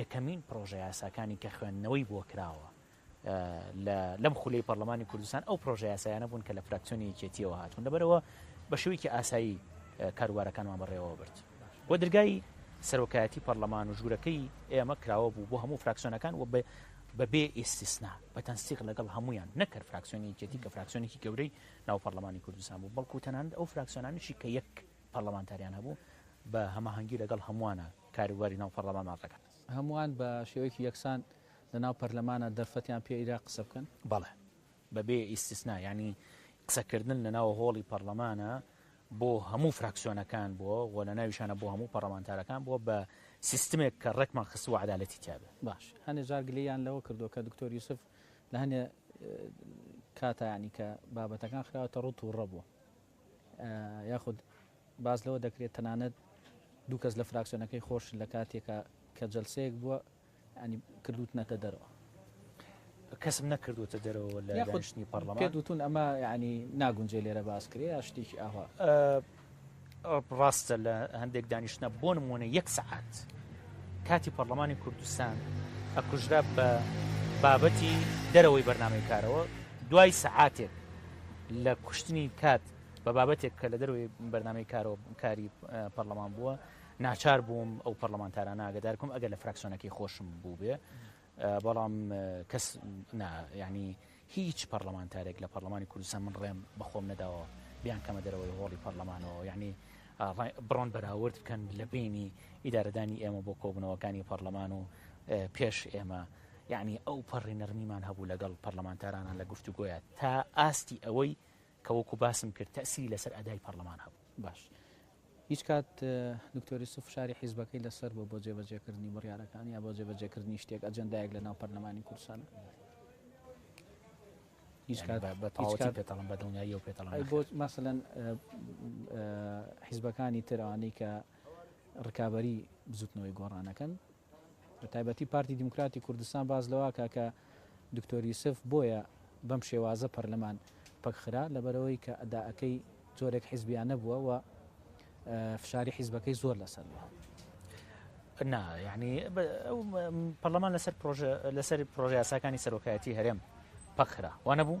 یەکەمین پڕۆژە یاساکانی کە خوێندنەوەی بۆ کراوە لەم خولەی پەرلەمانی کوردستان ئەو پرۆژە یاسایانە بوون کە لە فراکسیۆنی یەکێتیەوە هاتوون لەبەرەوە بە شێوەیەکی ئاسایی کاروبارەکانمان بەڕێوە برد و درگای سەرۆکایەتی پەرلەمان و ژوورەکەی ئێمە کراوە بوو بۆ هەموو فراکسیۆنەکان و بەبێ ئیسیسنا بە تەنسیق لەگەڵ هەمویان نەکرد فراکسیۆنی یەکێتی کە فراکسیۆنێکی گەورەی ناو پەرلەمانی کوردستان بوو بەڵکو تەنانند ئەو فراکسیۆنانیشی کە یەک پەرلەمانتاریان هەبوو بە هەماهەنگی لەگەڵ هەمووانە کاروباری ناو پەڕلەمان ماف دەکات. هەمووان بە شێوەیەکی یەکسان لە ناو پەرلەمانا دەرفەتیان پێ ئیرا قسە بکەن؟ بەڵێ بە بێ ئیستیسنا، یانی قسە کردن لە ناو هۆڵی پەڕلەمانا بۆ هەموو فراکسیۆنەکان بووە و لە ناویشانا بۆ هەموو پەڕەمانتارەکان بووە بە سیستمێک کە ڕێکمان خستووە عەدالەتی تیا بێ. باش هەنێ جار گلەییان لەوە کردووە کە دکتۆر یوسف لە هەنێ کاتا یانی کە بابەتەکان خراوەتە ڕووت و ڕە بووە. یاخود باس لەوە دەکرێت تەنانەت دوو کەس لە فراکسیۆنەکەی خۆشن لە کاتێکا کە جەلسەیەک بووە ینی کردوتنەتە دەرەوە. کەسم نەکردوتە دەرەوە لە دانیشتنی پەرلەمان. پێت وتون ئەمە ینی ناگونجێ لێرە باس کرێ یا شتێکی ئاوا؟ ڕاستە لە هەندێک دانیشتنە بۆ نموونە یەک سەعات کاتی پەرلەمانی کوردستان ئەکوژرا بە بابەتی دەرەوەی بەرنامەی کارەوە دوای سەعاتێک لە کوشتنی کات بە بابەتێک کە لە دەروی بەرنمەی کارۆ کاری پەرلەمان بووە ناچار بووم ئەو پەرلەمانتاران ناگەدارکم ئەگەر لە فراکسۆنەکەی خۆشم بوو بێ بەڵام کەس ینی هیچ پەرلەمانتارێک لە پەرلەمانی کوردستان من ڕێم بەخۆم نەداوە بیان کەمە دەرەوەی هۆڵی پەرلەمانەوە یعنی بڕۆن بەراورد بکەن لە بینی ئیدارەدانی ئێمە بۆ کۆبنەوەکانی پەرلەمان و پێش ئێمە یەعنی ئەو پەڕی نەرمیمان هەبوو لەگەڵ پەڕلەمانتارانان لە گفتوگۆیا تا ئاستی ئەوەی کە وەکو باسم کرد تەئسیری لەسەر ئەدای پەڕلەمان هەبوو. باش هیچ کات دکتۆر یوسف فشاری حیزبەکەی لەسەر بووە بۆ جێبەجێکردنی بڕیارەکان یا بۆ جێبەجێکردنی شتێک ئەجەندایەک لە ناو پەرلەمانی کوردستانە؟ هیچ کات بە تەواوەتی پێتەڵم بە دڵنیایی و پێتەڵم بۆ مەسەلەن حیزبەکانی ترەوانی کە ڕکابی بزوتنەوەی گۆڕانەکەن بە تایبەتی پارتی دیموکراتی کوردستان باس لەوەکا کە دکتۆر یوسف بۆیە بەم شێوازە پەرلەمان پەکخرا لەبەرەوەی کە ئەدائەکەی جۆرێک حیزبیانە بووە و فشاری حیزبەکەی زۆر لەسەر بووە نا یعنی پەرلەمان لەسەر پرۆژە لەسەر پرۆژیاساکانی سەرۆکایەتی هەرێم پەکخرا وانە بوو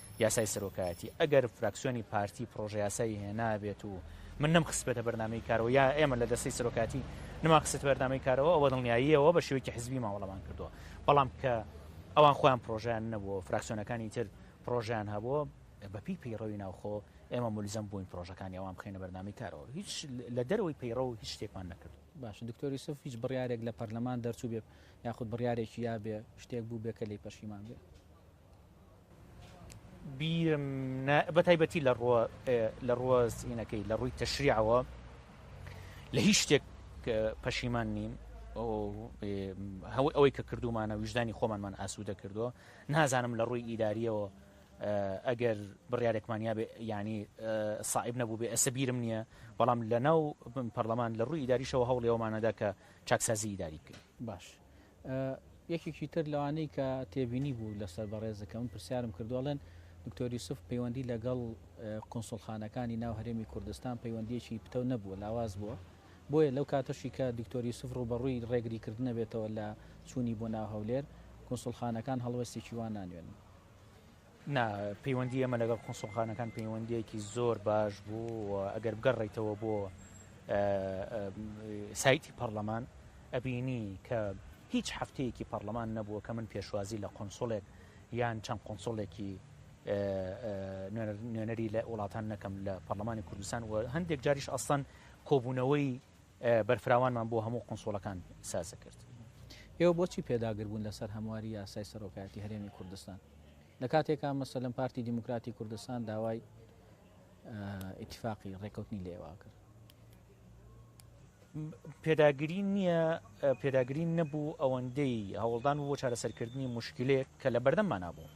یاسای سەرۆکایەتی ئەگەر فراکسیۆنی پارتی پرۆژەیاسایی هێنابێت و من نەم خستبێتە بەرنمەی کارەوە یا ئێمە لە دەستەی سەرۆکاتی نما خست بەرنامەی کارەوە ئەوە دڵنیاییەوە بە شێوەیەکی حزبی ماوەڵەمان کردووە بەڵام کە ئەوان خۆیان پرۆژیان نەبووە فراکسیۆنەکانی تر پرۆژیان هەبووە بەپی پەیڕەوی ناوخۆ ئێمە ملزم بووین پرۆژەکانی ئەوان بخینە بەرنامی کارەوە هیچ لە دەرەوەی پەیڕە و هیچ شتێکمان نەکرد باش دکتۆری سف هیچ بڕارێک لە پەرلەمان دەرچوو بێ یاخود بڕارێکی یابێ شتێک بوو بێ کە لی پەشیمان بێ بیرم نا بەتایبەتی لە ڕوە لە ڕوە سینەکەی لە ڕووی تەشریعەوە لە هیچ شتێک پەشیمان نیم هەو ئەوەی کە کردومانە ویژدانی خۆمانمان ئاسوودە کردووە نازانم لە ڕووی ئیداریەوە ئەگەر بڕارێکمانیا ینی ساعب نەبوو بێ ئەسە بیرم نییە بەڵام لە ناو پەرلەمان لە ڕووی ئیداریشەوە هەوڵێەوەمانەدا کە چاکسازی ئیداری بکەین باش یەکێکی تر لەوانەی کە تێبینی بوو لەسەر بەڕێزەکە من پرسیارم کردوڵێن دکتۆر یوسف پەیوەندی لەگەڵ قنسڵخانەکانی ناو هەرێمی کوردستان پەیوەندیەکی پتەو نەبووە لاواز بووە بۆیە لەو کاتەشی کە دکتۆر یوسف ڕوبەڕووی ڕێگری کردنە بێتەوە لە چوونی بۆ ناو هەولێر قنسڵخانەکان هەڵوەستێکی وان نانوێنن نا، پەیوەندی ئێمە لەگەڵ کونسوڵخانەکان پەیوەندیەکی زۆر باش بوو و ئەگەر بگەڕێیتەوە بۆ سایتی پەرلەمان ئەبینی کە هیچ هەفتەیەکی پەرلەمان نەبووە کە من پێشوازی لە قۆنسڵێک یان چەند قۆنسڵێکی نوێنەری لە وڵاتان نەکەم لە پەرلەمانی کوردستان و هەندێک جاریش ئەسان کۆبوونەوەی بەرفراوانمان بۆ هەموو قونسوڵەکان سازکرد. ئێوە بۆچی پێداگربوون لەسەر هەمواری یاسای سەرۆکایەتی هەرێمی کوردستان؟ لەکاتێکا مەسەلەن پارتی دیموکراتی کوردستان داوای ئیتفاقی ڕێکەوتنی لێواکرد. پێداگری نییە پێداگری نەبوو ئەوەندەی هەوڵدان بۆ چارەسەرکردنی مشکلێک کە لە بەردەممانابوو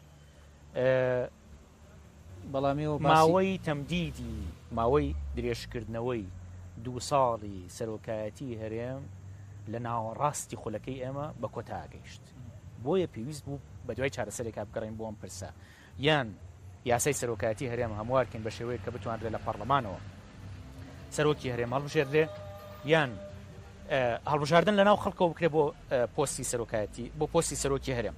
ماوەی تەمدیدی ماوەی درێژکردنەوەی دوو ساڵی سەرۆکایەتیی هەرێم لە ناوەڕاستی خولەکەی ئێمە بە کۆتا گەیشت، بۆیە پێویست بوو بەدوای چارەسەرێکا بگەڕێین بۆ ئەم پرسە، یان یاسای سەرۆکایەتیی هەرێم هەموار کەین بە شێوەیەک کە بتوانرێ لە پەڕڵەمانەوە سەرۆکی هەرێم هەڵبژێردرێ، یان هەڵبژاردن لەناو خەڵکەوە بکرێ بۆ پۆستی سەرۆکایەتی، بۆ پۆستی سەرۆکی هەرێم.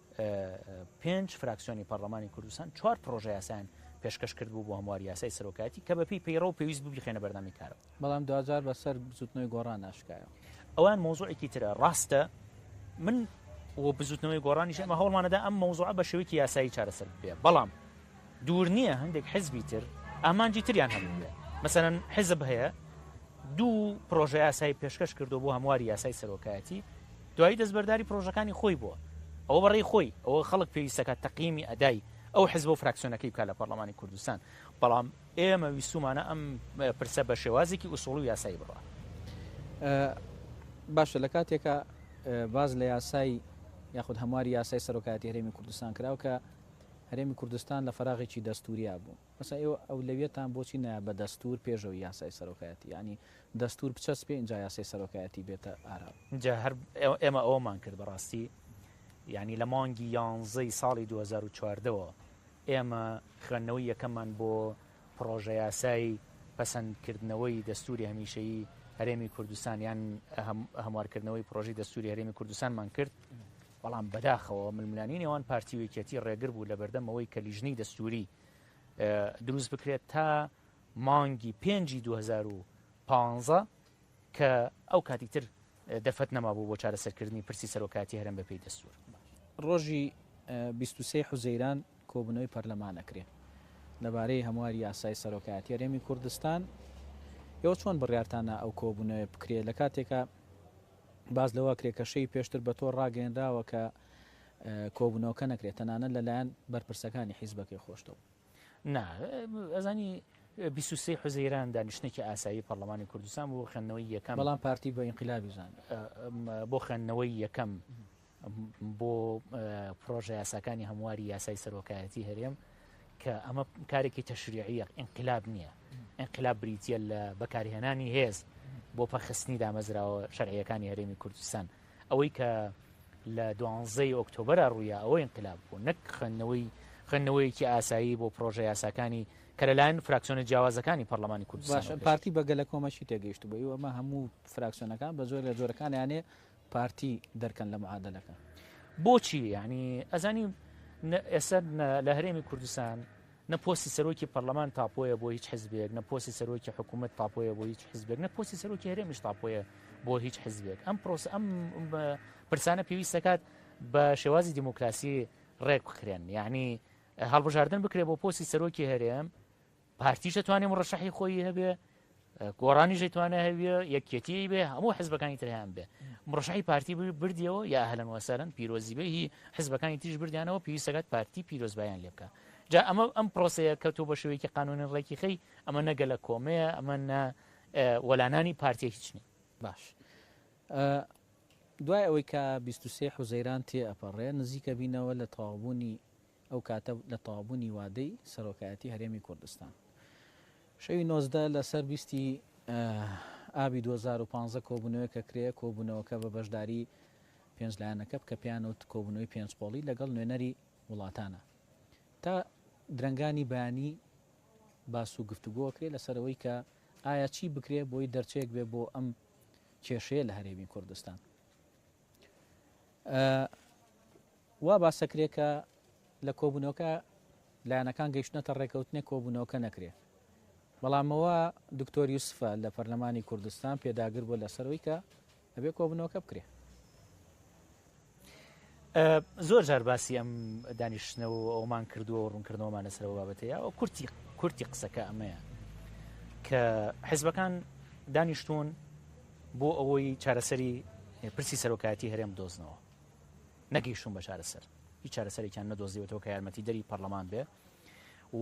پێنج فراکسیۆنی پەڕڵەمانی کوردستان چوار پڕۆژە یاسایان پێشکەش کردبوو بۆ هەمواری یاسای سەرۆکایەتی کە بەپێی پەیڕەو پێویست بوو بیخەنە بەردەمی کارەوە بەڵام دواجار بەسەر بزوتنەوەی گۆڕان ئاشکایەوە ئەوان مۆزوعێکی ترە ڕاستە من و بزوتنەوەی گۆڕانیش ئەمە هەوڵمانەدا ئەم مۆزوعە بە شێوەیەکی یاسایی چارەسەر بێ بەڵام دوور نییە هەندێک حزبی تر ئامانجی تریان هەبووبێ مەسەرەن حزب هەیە دوو پرۆژە یاسای پێشکەش کردو بۆ هەمواری یاسای سەرۆکایەتی دوایی دەستبەرداری پرۆژەکانی خۆی بووە ئەوە بەڕێی خۆی ئەوە خەڵک پێویستەکە تەقیمی ئەدای ئەو حزب و فراکسیۆنەکەی بکە لە پەرلەمانی کوردستان بەڵام ئێمە ویستومانە ئەم پرسە بە شێوازێکی ئووسڵ و یاسایی بڕە باشە لە کاتێکە باز لە یاسای یاخود هەمواری یاسای سەرۆکایەتی هەرێمی کوردستان کراو کە هەرێمی کوردستان لە فەراغێکی دەستووریا بوو ئەسا ئێوە ئەولەویەتان بۆچی نایە بە دەستوور پێشەوەی یاسای سەرۆکایەتی یانی دەستوور بچەسپێ ئینجا یاسای سەرۆکایەتی بێتە ئاراوە. جا هەر ئێمە ئەوەمان کرد بەڕاستی یانی لە مانگی یانزە ی ساڵی دوو هەزار و چواردە وە ئێمە خوێندنەوەی یەکەممان بۆ پڕۆژە یاسای پەسەند کردنەوەی دەستووری هەمیشەیی هەرێمی کوردستان یان هەموارکردنەوەی پڕۆژەی دەستووری هەرێمی کوردستانمان کرد بەڵام بەداخەوە ململانێی نێوان پارتی و یەکێتی ڕێگر بوو لەبەردەم ئەوەی کە لیژنەی دەستووری دروست بکرێت تا مانگی پێنجی 2015 کە ئەو کاتی تر دەرفەت نەما بوو بۆ چارەسەرکردنی پرسی سەرۆکاتی هەرم بەپی دەستور ڕۆژی 23 حوزەیران کۆبنەوەی پەرلەمانەکرێ لەبارەی هەمواری یاسای سەرۆکایەتی هەرێمی کوردستان ئێوە چۆن بڕیارتانە ئەو کۆبوونەوە بکرێت لە کاتێکە باس لەوە کرێ کە شەوی پێشتر بە تۆڕ ڕاگەیەنراوە کە کۆبوونەوەکە نەکرێت تەنانەت لەلایەن بەرپرسەکانی حیزبەکەی خۆشتەوە. نا، ئەزانی بیست و سێ حوزەیران دانیشتنێکی ئاسایی پەرلەمانی کوردستان بۆ خوێندنەوەی یەکەم. بەڵام پارتی بە ئینقلابی زانی. بۆ خوێندنەوەی یەکەم بۆ پرۆژە یاساکانی هەمواری یاسای سەرۆکایەتی هەرێم کە ئەمە کارێکی تەشریعیە ئینقلاب نییە ئینقلاب بریتە لە بەکارهێنانی هێز بۆ پەرخستنی دامەزراوە شەرعیەکانی هەرێمی کوردستان ئەوەی کە لە دوانزەی ئۆکتۆبرە ڕوویە ئەوە ئینقلاب بوو نەک خوێندنەوەی خوێندنەوەیەکی ئاسایی بۆ پرۆژە یاساکانی کە لەلایەن فراکسیۆنە جیاوازەکانی پەرلەمانی کوردستان پارتی بەگەلە کۆمەشی تێگەیشت بووی ئەمە هەموو فراکسیۆنەکان بە زۆر لە جۆرەکانیانێ پارتی دەرکەن لە معادەلەکە. بۆچی یانی ئەزانی ئێستا لە هەرێمی کوردستان نە پۆستی سەرۆکی پەرلەمان تاپۆیە بۆ هیچ حزبێک نە پۆستی سەرۆکی حکوومەت تاپۆیە بۆ هیچ حزبێک نە پۆستی سەرۆکی هەرێمیش تاپۆیە بۆ هیچ حزبێک ئەم پرۆس ئەم پرسانە پێویست دەکات بە شێوازی دیموکراسی ڕێک بکرێن یعنی هەڵبژاردن بکرێت بۆ پۆستی سەرۆکی هەرێم پارتیش ئەتوانێ مڕەشەحی خۆی هەبێ گۆڕانیش ئەتوانێ هەبێ یەکێتی بێ هەموو حزبەکانی تریان بێ مڕەشەحی پارتی بردیەوە یا هەلەن وەسەرن پیرۆزی بێ هی حزبەکانی تیش بردیانەوە پێویستەکات پارتی پیرۆزبایان لێ بکە جا ئەمە ئەم پرۆسەیە کە تۆ بە شێوەیەکی قانونی ڕێکی خەی ئەمە نەگە لە کۆمەیە ئەمە نە وەلانانی پارتیە هیچ نیە باش دوای ئەوەی کە 23 حوزەیران تێ ئەپەڕێ نزیکە بینەوە لە تەواوبوونی ئەو کاتە لە تەواوبوونی وادەی سەرۆکایەتی هەرێمی کوردستان شەوی نۆزدە لە سەر بیستی ئابی دوو هەزار و پازدە کۆبوونەوەیەک ئەکرێ، کۆبوونەوەکە بە بەشداری پێنج لایەنەکە بکە پێیان وت کۆبوونەوەی پێنج قۆڵی لەگەڵ نوێنەری وڵاتانە تا درەنگانی بەیانی باس و گفتوگۆ کرێ لەسەرەوەی کە ئایا چی بکرێ بۆی دەرچەیەک بێ بۆ ئەم کێشەیە لە هەرێمی کوردستان. وا باسدەکرێت کە لە کۆبوونەوەکە لایەنەکان گەیشتنەتە ڕێکەوتنێک کۆبوونەوەکە نەکرێت، بەڵام ئەوە دکتۆر یوسفە لە پەرلەمانی کوردستان پێداگر بووە لەسەر ئەوەی کە ئەبێت کۆبوونەوەکە بکرێت. زۆر جار باسی ئەم دانیشتنەوە ئەومان کردووە و ڕوونکردنەوەمان لەسەر ئەو بابەتەیە و کورتی کورتی قسەکە ئەمەیە کە حیزبەکان دانیشتون بۆ ئەوەی چارەسەری پرسی سەرۆکایەتی هەرێم دۆزنەوە نەگەیشتوون بە چارەسەر، هیچ چارەسەرێکیان نەدۆزیوەتەوە کە یارمەتیدەری پەرلەمان بێ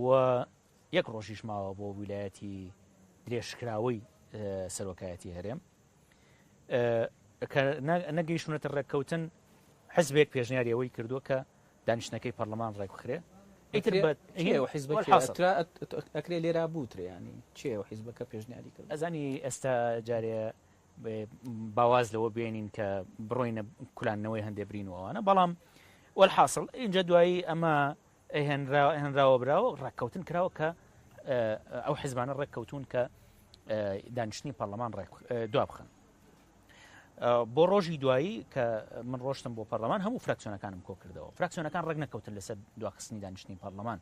و یەک ڕۆژیش ماوە بۆ ویلایەتی درێژکراوەی سەرۆکایەتی هەرێم نەگەیشتونەتە ڕێککەوتن حزبێک پێشنیاری ئەوەی کردووە کە دانیشتەکەی پەرلەمان ڕێکخرێ ئەکرێ لێرا بوتریانی چێ و حیزبەکە پێشنیاری کرد ئەزانی ئێستا جارێ با واز لەوە بێنین کە بڕۆینە کولانەوەی هەندێ برین و ئەوانە بەڵام وەلحاصل ئینجا دوایی ئەمە هێنراوە براوە ڕێککەوتن کراوە کە ئەو حزبانە ڕێککەوتون کە دانیشتنی پەرلەمان ڕێک دوا بخن بۆ ڕۆژی دوایی کە من ڕۆشتم بۆ پەرلەمان هەموو فراکسیۆنەکانم کۆ کردەوە فراکسیۆنەکان ڕێک نەکەوتن لەسەر دواخستنی دانیشتنی پەرلەمان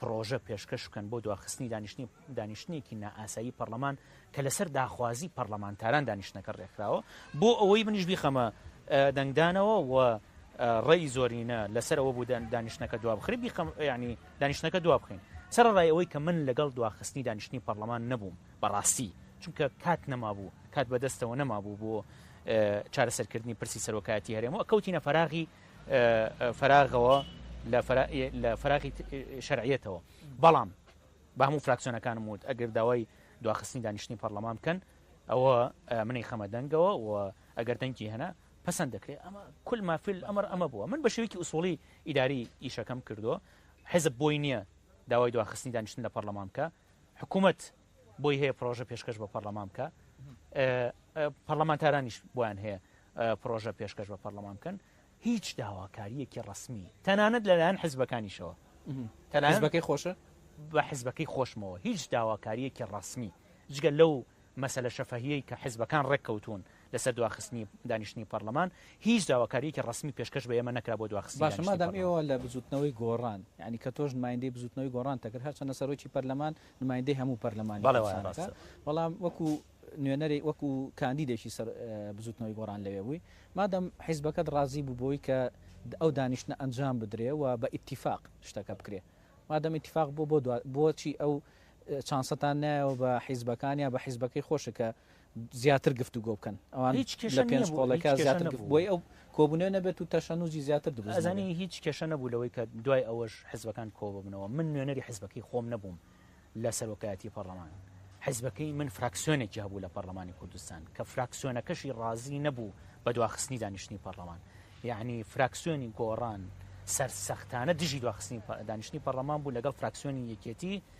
پڕۆژە پێشکەش بکەن بۆ دواخستنی دانیشتنی دانیشتنێکی نائاسایی پەڕلەمان کە لەسەر داخوازی پەڕلەمانتاران دانیشتنەکە ڕێکخراوە بۆ ئەوەی منیش بیخەمە دەنگدانەوە و ڕێی زۆرینە لەسەر ئەوە بوو دانیشتنەکە دوابخری بیخەم ینی دانیشتنەکە دوابخین سەرڕای ئەوەی کە من لەگەڵ دواخستنی دانیشتنی پەڕلەمان نەبووم بەڕاستی چونکە کات نەمابوو کات بەدەستەوە نەمابوو بۆ چارەسەرکردنی پرسی سەرۆکایەتی هەرێمەوە کەوتینە فەراغی فەراغەوە لە فەراغی شەرعەتەوە بەڵام بە هەموو فراکسیۆنەکانم وت ئەگەر داوای دواخستنی دانیشتنی پەرلەمان بکەن ئەوە منی خەمە دەنگەوە و ئەگەر دەنگی هەنا پسند دەکرێت ئەمە کل مافل ئەمر ئەمە بووە من بە شێوکی ئوسۆڵی ئیداری ئیشەکەم کردو حزب بۆی نییە داوای دواخستنی دانیشتن لە پەرلەمان بکە حکوومەت بۆی هەیە پرۆژە پێشکەش بە پەرلەمان بکە پەرلەمانتارانیش بۆیان هەیە پرۆژە پێشکەش بە پەرلەمان بکەن هیچ داواکاریەکی ڕسمی تەنانەت لەلایەن حزبەکانیشەوە تەنانبەکەی خۆشە بە حزبەکەی خۆشمەوە هیچ داواکاریەکی ڕسمی جگە لەو مەسلە شەفەهیەی کە حزبەکان ڕێککەوتون لەسەر دواخستنی دانیشتنی پەرلەمان هیچ داواکاریەکی ڕسمی پێشکەش بە ئێمە نەکرا بۆ دواخست باشمادام ئێوە لە بزوتنەوەی گۆڕان ینی کە تۆش مایندی بزوتنەوەی گۆڕان تەکرد هەرچەندە سەرۆکی پەرلەمان نمایندەی هەموو پەرلەمانی کوردستانەکە، بەڵام وەکو نوێنەری وەکو کاندیدێکی سەر بزوتنەوەی گۆڕان لەوێ بووی، مادەم حیزبەکەت ڕازی بوو بەوەی کە ئەو دانیشتنە ئەنجام بدرێ و بە ئیتیفاق شتەکە بکرێ، مادەم ئیتیفاق بوو بۆ بۆچی ئەو چانسەتان نایەوە بە حیزبەکان یا بە حیزبەکەی خۆشت کە زیاتر گفتوگۆ بکەن ئەوان هیچ کێشە نیە بۆ ئەوەی کە زیاتر گفت بۆی ئەو کۆبونەوە نەبێت و تەشەنوجی زیاتر دروست نەبێت ئەزانی هیچ کێشە نەبوو لەوەی کە دوای ئەوەش حزبەکان کۆببنەوە من نوێنەری حزبەکەی خۆم نەبووم لە سەرۆکایەتی پەڕلەمان حزبەکەی من فراکسیۆنێکی هەبوو لە پەرلەمانی کوردستان کە فراکسیۆنەکەشی ڕازی نەبوو بە دواخستنی دانیشتنی پەرلەمان یعنی فراکسیۆنی گۆڕان سەرسەختانە دژی دواخستنی دانیشتنی پەرلەمان بوو لەگەڵ فراکسیۆنی یەکێتی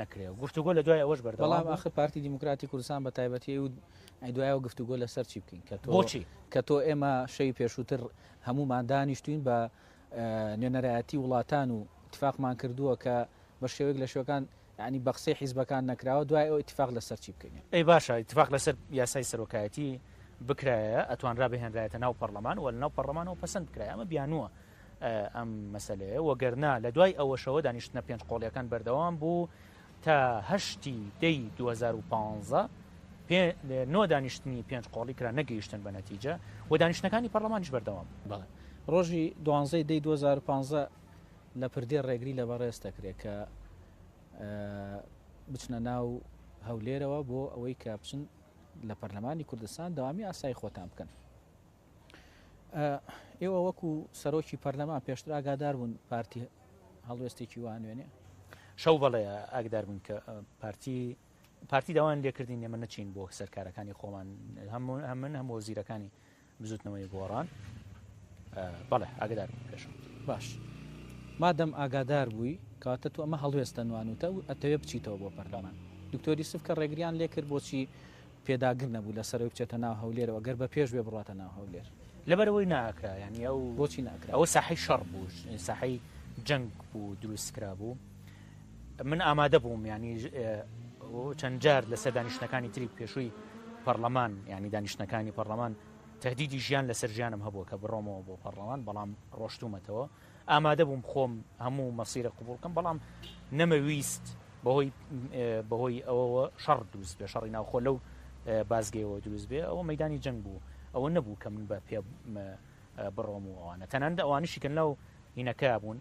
نەکرێ و گفتوگۆ لە دوای ئەوەش بەردەوام بەڵام بوو. ئاخر پارتی دیموکراتی کوردستان بە تایبەتی ئەی و ئەی دوای ئەوە گفتوگۆ لەسەر چی بکەین کە تۆ بۆچی؟ کە تۆ ئێمە شەوی پێشووتر هەموومان دانیشتووین بە نوێنەرایەتی وڵاتان و ئیتفاقمان کردووە کە بە شێوەیەک لە شێوەکان یانی بە قسەی حیزبەکان نەکراوە دوای ئەوە ئیتفاق لەسەر چی بکەین؟ ئەی باشە ئیتفاق لەسەر یاسای سەرۆکایەتی بکرایایە ئەتوانرا بهێنرایەتە ناو پەڕڵەمان و لەناو پەڕڵەمانەوە پەسەند بکرایە ئەمە بیانووە ئەم مەسەلەیە، وەگەرنا لە دوای ئەوەشەوە دانیشتنە پێنج قۆڵییەکان بەردەوام بوو تا هەشتی، دەی، دوو هەزار و پازدە، پێ نۆ دانیشتنی پێنج قۆڵی کرا نەگەیشتن بە نەتیجە و دانیشتنەکانی پەڕڵەمانیش بەردەوام بوو. بەڵێ. ڕۆژی دوانزەی، دەی، دوو هەزار و پازدە لە پردێ ڕێگری لە بەڕێز دەکرێت کە بچنە ناو هەولێرەوە بۆ ئەوەی کە بچن لە پەرلەمانی کوردستان دەوامی ئاسایی خۆتان بکەن. ئێوە وەکو سەرۆکی پەرلەمان پێشتر ئاگادار بوون پارتی هەڵوێستێکی وانوێنێ شەو بەڵێ ئاگدار بوون کە پارتی پارتی داوان لێکردین نێمە نەچین بۆ سەرکارەکانی خۆمان هەمون هەمن هەم وەزیرەکانی بزوتنەوەی گۆڕان بەڵێ ئاگدار پێش باش مادەم ئاگادار بووی کاتە تو ئەمە هەڵوێستە نوانوتە و ئەتەوێ بچیتەوە بۆ پەرلەمان دکتۆری سف کە ڕێگریان لێکرد بۆچی پێداگر نەبوو لەسەرەوەی بچێتە ناو هەولێرەوە گەر بە پێش بێ بڕاتە ناو هەولێر. لەبەرئەوەی ناکرا یانی ئەو بۆچی ناکرا؟ ئەوە ساحەی شەڕ بوو ساحەی جەنگ بوو دروست کرا بوو من ئامادە بووم ینی چەند جار لەسەر دانیشتەکانی تری پێشووی پەرلەمان ینی دانیشتەکانی پەرلەمان تهدیدی ژیان لەسەر ژیانم هەبووە کە بڕۆمەوە بۆ پەرلەمان بەڵام ڕۆشتومەتەوە ئامادە بووم خۆم هەموو مەسیرە قبوڵ کەم بەڵام نەمەویست بەهۆی بەهۆی ئەوەوە شەڕ دووست بێ شەڕی ناوخۆ لەو بازگەیەوە دروست بێ ئەوە مەدانی جەنگ بوو ئەوە نەبوو کە من بە پێ بڕۆم و ئەوانە تەناندا ئەوانیشی کە لەو هینەکە بوون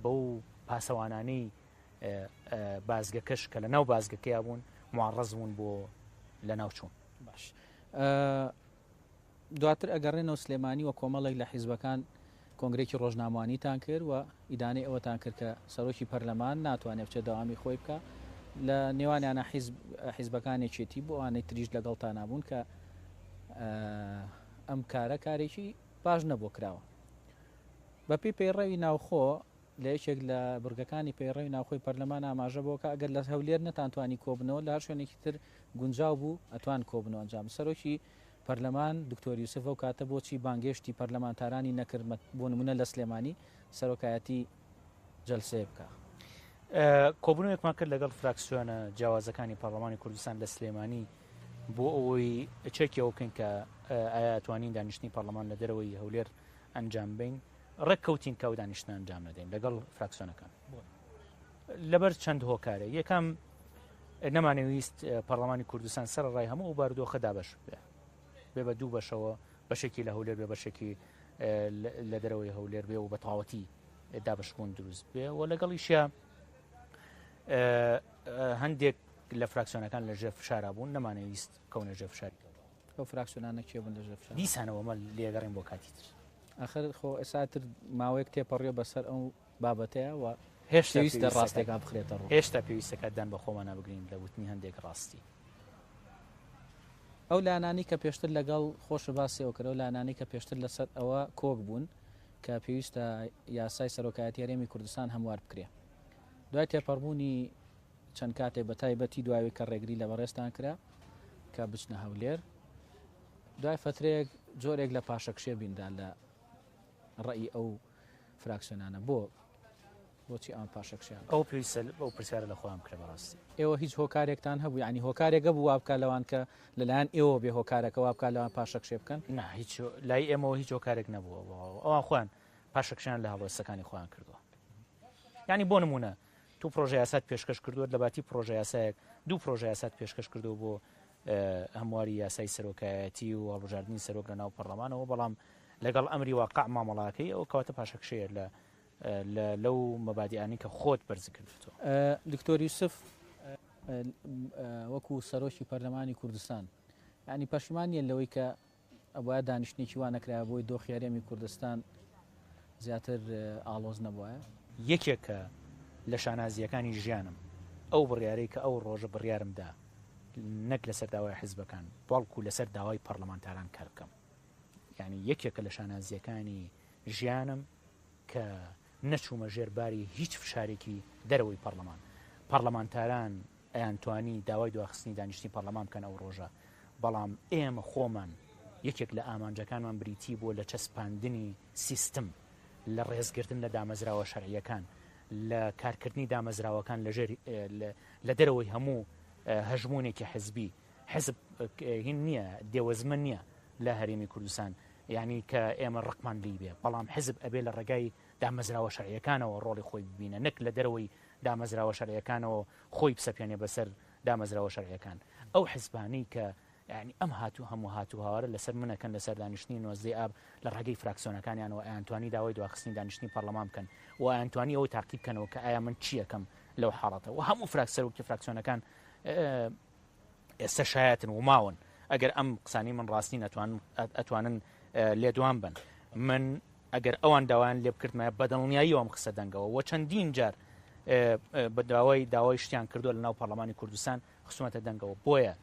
بەو پاسەوانانی بازگەکەش کە لە ناو بازگەکەیا بوون معڕز بوون بۆ لە ناوچوون باش. دواتر ئەگەڕێنەوە سلێمانی و کۆمەڵێک لە حیزبەکان کۆنگرەیەکی ڕۆژنامەوانیتان کرد و ئیدانەی ئەوەتان کرد کە سەرۆکی پەرلەمان ناتوانێت بچێت دەوامی خۆی بکە لە نێوانیانە حیزبەکان یەکێتی بۆ ئەوانەی تریش لەگەڵتا نابوون کە ئەم کارە کارێکی باش نەبوو کراوە بەپی پەیڕەوی ناوخۆ لە یەکێک لە بڕگەکانی پەیڕەوی ناوخۆی پەرلەمان ئاماژە بەوە کرد، ئەگەر لە هەولێر نەتانتوانی کۆببنەوە، لە هەر شوێنێکی تر گونجاو بوو، ئەتوان کۆببنەوە ئەنجام بدەن. سەرۆکی پەرلەمان دکتۆر یوسف ئەو کاتە بۆچی بانگێشتی پەرلەمانتارانی نەکرد بۆ نموونە لە سلێمانی سەرۆکایەتی جەلسەیەک بکا؟ کۆبوونەوەیەکمان کرد لەگەڵ فراکسیۆنە جیاوازەکانی پەرلەمانی کوردستان لە سلێمانی بۆ ئەوەی چەکی ئەوە بکەین کە ئایا ئەتوانین دانیشتنی پەرلەمان لە دەرەوەی هەولێر ئەنجام بین ڕێک کەوتین کە ئەو دانیشتنە ئەنجام نەدەین لەگەڵ فراکسۆنەکان لەبەر چەند هۆکارە یەکەم نەمانەویست پەرلەمانی کوردستان سەر ڕای هەموو ئەو باردۆخە دابش بێ بێ بە دوو بەشەوە بەشێکی لە هەولێر بێ بەشێکی لە دەرەوەی هەولێر بێ و بە تەواوەتی دابشبوون دروست بێ و لەگەڵیشە هەندێک لە فراکسۆنەکان لە ژێر فشارا بوون نەمانەویست کەونە ژێ فشاری ئەو فراکسیۆنانە کێ بوون لەژێر فشار؟ دیسانەوە مەل لێگەڕێن بۆ کاتی تر. ئاخر خۆ ئێستا تر ماوەیەک تێپەڕیوە بەسەر ئەو بابەتەیە و هێشتا پێویست دە ڕاستێکا بخرێتە ڕوو. هێشتا پێویستەکە دان بە خۆمانە بگرین لە وتنی هەندێک ڕاستی. ئەو لایەنانەی کە پێشتر لەگەڵ خۆشە باسی ئەوە کرد، ئەو لایەنانەی کە پێشتر لەسەر ئەوە کۆک بوون کە پێویستە یاسای سەرۆکایەتی هەرێمی کوردستان هەموار بکرێ. دوای تێپەڕبوونی چەند کاتێک بە تایبەتی دوای ئەوەی کە ڕێگری لە بەڕێزتان کرا کە بچنە هەولێر، دوای فەترەیەک جۆرێک لە پاشەکشێ بینرا لە ڕێی ئەو فراکسیۆنانە بۆ بۆچی ئەم پاشەکشیان ئەو پێویستە بەو پرسیارە لە خۆیان بکرێ بەڕاستی ئێوە هیچ هۆکارێکتان هەبوو ینی هۆکارێکە بوو وابکە لەوان کە لەلایەن ئێوە بێ هۆکارەکە وابکە لەوان پاشەکشێ بکەن نه هیچ لای ئێمەوە هیچ هۆکارێک نەبووە ئەوان خۆیان پاشەکشیان لە هەڵوێستەکانی خۆیان کردووە ینی بۆ نمونە تۆ پڕۆژەیاسات پێشکەش کردووەت، لەباتی پڕۆژەیاسایەک دوو پڕۆژەیاسات پێشکەش کردووە بۆ هەمواری یاسای سەرۆکایەتی و هەڵبژاردنی سەرۆک لەناو پەڕڵەمانەوە، بەڵام لەگەڵ ئەمری واقع مامەڵاکەی، ئەوە کەواتە پاشەکشەیە لە لەو مەبادیئانەی کە خۆت بەرز کردووتەوە. دکتۆر یوسف، وەکو سەرۆکی پەرلەمانی کوردستان، یانی پەشیمان نییە لەوەی کە ئەبوایە دانیشتنێکی وا نەکرایەبووی دۆخی هەرێمی کوردستان زیاتر ئاڵۆز نەبوایە. یەکێکە لە شانازییەکانی ژیانم ئەو بڕیارەی کە ئەو ڕۆژە بڕیارم دا نەک لەسەر داوای حزبەکان بەڵکو لەسەر داوای پەڕلەمانتاران کار بکەم یانی یەکێکە لە شانازییەکانی ژیانم کە نەچوومە ژێر باری هیچ فشارێکی دەرەوەی پەڕلەمان پەڕلەمانتاران ئەیانتوانی داوای دواخستنی دانیشتنی پەڕلەمان بکەن ئەو ڕۆژە، بەڵام ئێمە خۆمان یەکێک لە ئامانجەکانمان بریتی بووە لە چەسپاندنی سیستم، لە ڕێزگرتن لە دامەزراوە شەرعییەکان، لە کارکردنی دامەزراوەکان لە ژێر لە دەرەوەی هەموو هەژموونێکی حزبی، حزب هین نییە، دێوەزمە نییە لە هەرێمی کوردستان یانی کە ئێمە ڕقمان لێی بێ، بەڵام حزب ئەبێ لە ڕێگای دامەزراوە شەرعییەکانەوە ڕۆڵی خۆی ببینە نەک لە دەرەوەی دامەزراوە شەرعیەکانەوە خۆی بسەپێنێ بەسەر دامەزراوە شەرعیەکان ئەو حزبانەی کە یانی ئەم هاتوو هەموو هاتوو هاوارە لەسەر منەکەن لەسەر دانیشتنی نۆزدەی ئاب لە ڕێگەی فراکسۆنەکانیانەوە ئەیانتوانی داوای دواخستنی دانیشتنی پەرلەمان بکەن و ئەیانتوانی ئەوە تاقی بکەنەوە کە ئایا من چیەکەم لەو حاڵەتە و هەموو فراکسەر وەکی فراکسۆنەکان ئێستەش هەیاتن و ماون ئەگەر ئەم قسانی من ڕاستین ئەتوان ئەتوانن لێدوان بن من ئەگەر ئەوان داوایان لێ بکردمە بەدڵنیایی ئەم قسە دەنگەوە وە چەندین جار بە داوای داوای شتیان کردو لە ناو پەرلەمانی کوردستان خسومەتە دەنگەوە بۆیە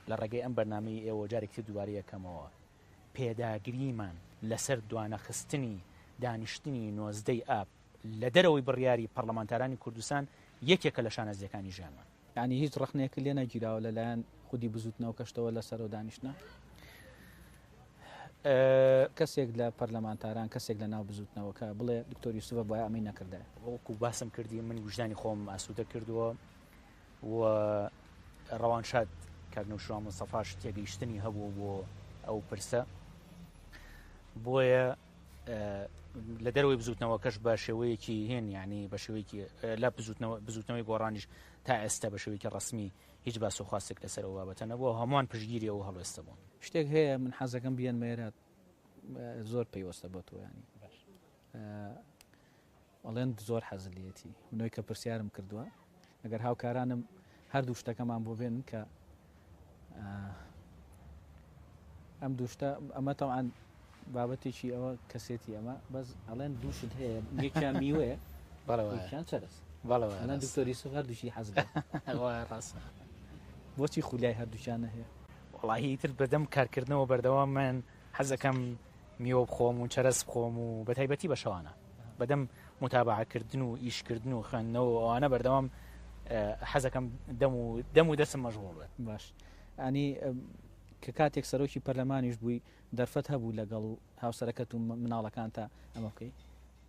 لە ڕێگەی ئەم بەرنمەی ئێوە جارێکی دووبارە یەکەمەوە پێداگریمان لەسەر دوانەخستنی دانیشتنی نۆزدەی ئاب لە دەرەوەی بڕیاری پەرلەمانتارانی کوردستان یەکێکە لە شانەزیەکانی ژیانمان یانی هیچ ڕەخنەیەکت لێ نەگیراوە لەلایەن خودی بزوتنەوەکەشتەوە لە سەرۆ دانیشتنە کەسێک لە پەرلەمانتاران کەسێک لە ناو بزوتنەوەکە بڵێ دکتۆر یوسفە بۆ ئەمەی نەکردای وەکو باسم کردی من وژدانی خۆم ئاسوودە کردووە و ڕەوان شاد کاکنەوشوان مستەفاش تێگەیشتنی هەبوو بۆ ئەو پرسە بۆیە لە دەرەوەی بزوتنەوەکەش بە شێوەیەکی هێن ینی بە شێوەیەکی لە بزوتنەوەی گۆڕانیش تا ئێستا بە شێوەیەکی ڕسمی هیچ باس و خواستێک لەسەرەوە بابەتە نەبووە هەمووان پشگیری ئەو هەڵوێستە بوون شتێک هەیە من حەزەکەم بیان مێرات زۆر پەیوەستە بە تۆیانی ئەلەند زۆر حەزت لێیەتی. بنۆی کە پرسیارم کردوە ئەگەر هاوکارانم هەردوو شتەکەمان بۆ بێنن کە ئەم دوو شتە ئەمە تەوان بابەتێکی ئەوە کەسێتی ئەمە بەس ئەلەند دوو شت هەیە یەکیان میوەیە بەڵێوەیان چەرس بەڵێوە ئەلەند دکتۆری سو هەردووشی حەز ڕاستە بۆچی خولای هەردووشیان نەهەیە وەڵاهی ئیتر بەدەم کارکردنەوە بەردەوامن حەزەکەم میوە بخۆم و چەرەز بخۆم و بەتایبەتی بە شەوانە بەدەم متابعکردن و ئیشکردن و خوێندنەوە ئەوانە بەردەوام حەزەکەم دەم و دەم و دەسم مەژغۆڵ بێت باش ئەنی کە کاتێک سەرۆکی پەرلەمانیش بووی دەرفەت هەبوو لەگەڵ هاوسەرەکەت و مناڵەکان تا ئەمە بکەی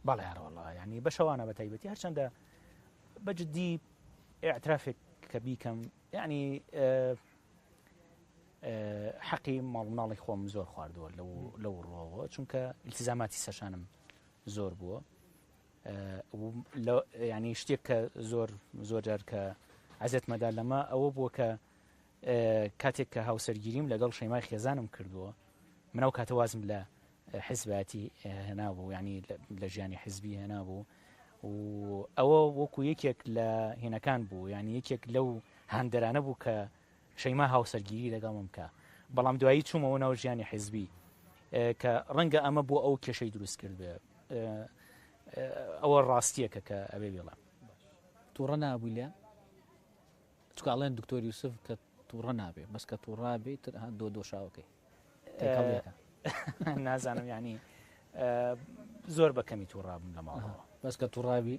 بەڵێڕۆڵە ینی بە شەوانە بە تایبەتی هەرچەندە بەجددی ئاعترافێک کە بیکەم ینی حەقی ماڵ مناڵی خۆم زۆر خواردووە لەو ڕۆوە چونکە التزاماتی سەشانم زۆر بووە ینی شتێک کە زۆر زۆر جار کە عزت مەدا لەمە ئەوە بووە کە کاتێک کە هاوسەرگیریم لەگەڵ شەیمای خێزانم کردووە منەو کاتەوازم لە حزباتی هێنابوو ینی لە ژیانی حزبی هێنابوو و ئەوە وەکو یەکێک لە هێنەکان بوو ینی یەکێک لەو هەندەرانە بوو کە شەیما هاوسەرگیری لەگەڵم بکە، بەڵام دوایی چوومەوە ناو ژیانی حیزبی کە ڕەنگە ئەمە بۆ ئەو کێشەی دروست کردبێ، ئەوە ڕاستییەکە کە ئەبێ بیڵێم. توڕە نابووی لێم؟ چونکە ئەڵێن دکتۆر یوسف کە توڕە نابێ، بەس کە توڕە بێ تر ها دۆ دۆشاوەکەی تێکەڵیەکە. نازانم یانی زۆر بە کەمی توڕە بووم لە ماڵەوە. بەس کە توڕە بی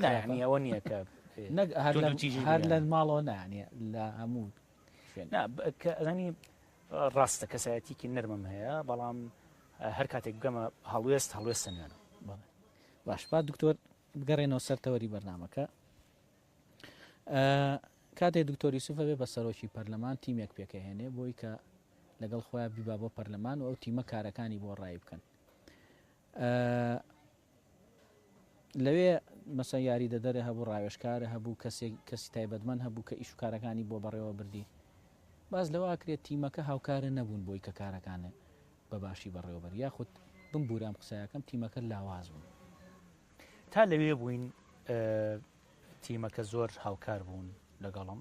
نا خراپە؟ یەعنی ئەوە نییە کە نەک هەر لە توندوتیژی هەر لە بگەیەنن. ماڵەوە نا یەعنی لە هەموو شوێن نا ب- کە ئەزانی ڕاستە کەسایەتیکی نەرمم هەیە بەڵام اه، هەر کاتێک بگەمە هەڵوێست هەڵوێستە نوێنم بەڵێ باش با دکتۆر بگەڕێنەوە سەر تەوەری بەرنامەکە ئە، کاتێ دکتۆر یوسف ئەبێ بە سەرۆکی پەرلەمان تیمێک پێکەهێنێ بۆی کە لەگەڵ خۆیان بیبا بۆ پەرلەمان و ئەو تیمە کارەکانی بۆ ڕایی بکەن لەوێ مەسەن یاریدەدەرێ هەبوو، ڕاوێژکارە هەبوو، کەسێک کەسی تایبەتمەند هەبوو کە ئیش و کارەکانی بۆ بەڕێوە بردی. باس لەوە ئەکرێ تیمەکە هاوکارە نەبوون بۆی کە کارەکانێ بە باشی بەڕێوە بەرێ یاخود بمبوورە ئەم قسایەکەم تیمەکە لاواز بوو. تا لەوێ بووین تیمەکە زۆر هاوکار بوون لەگەڵم.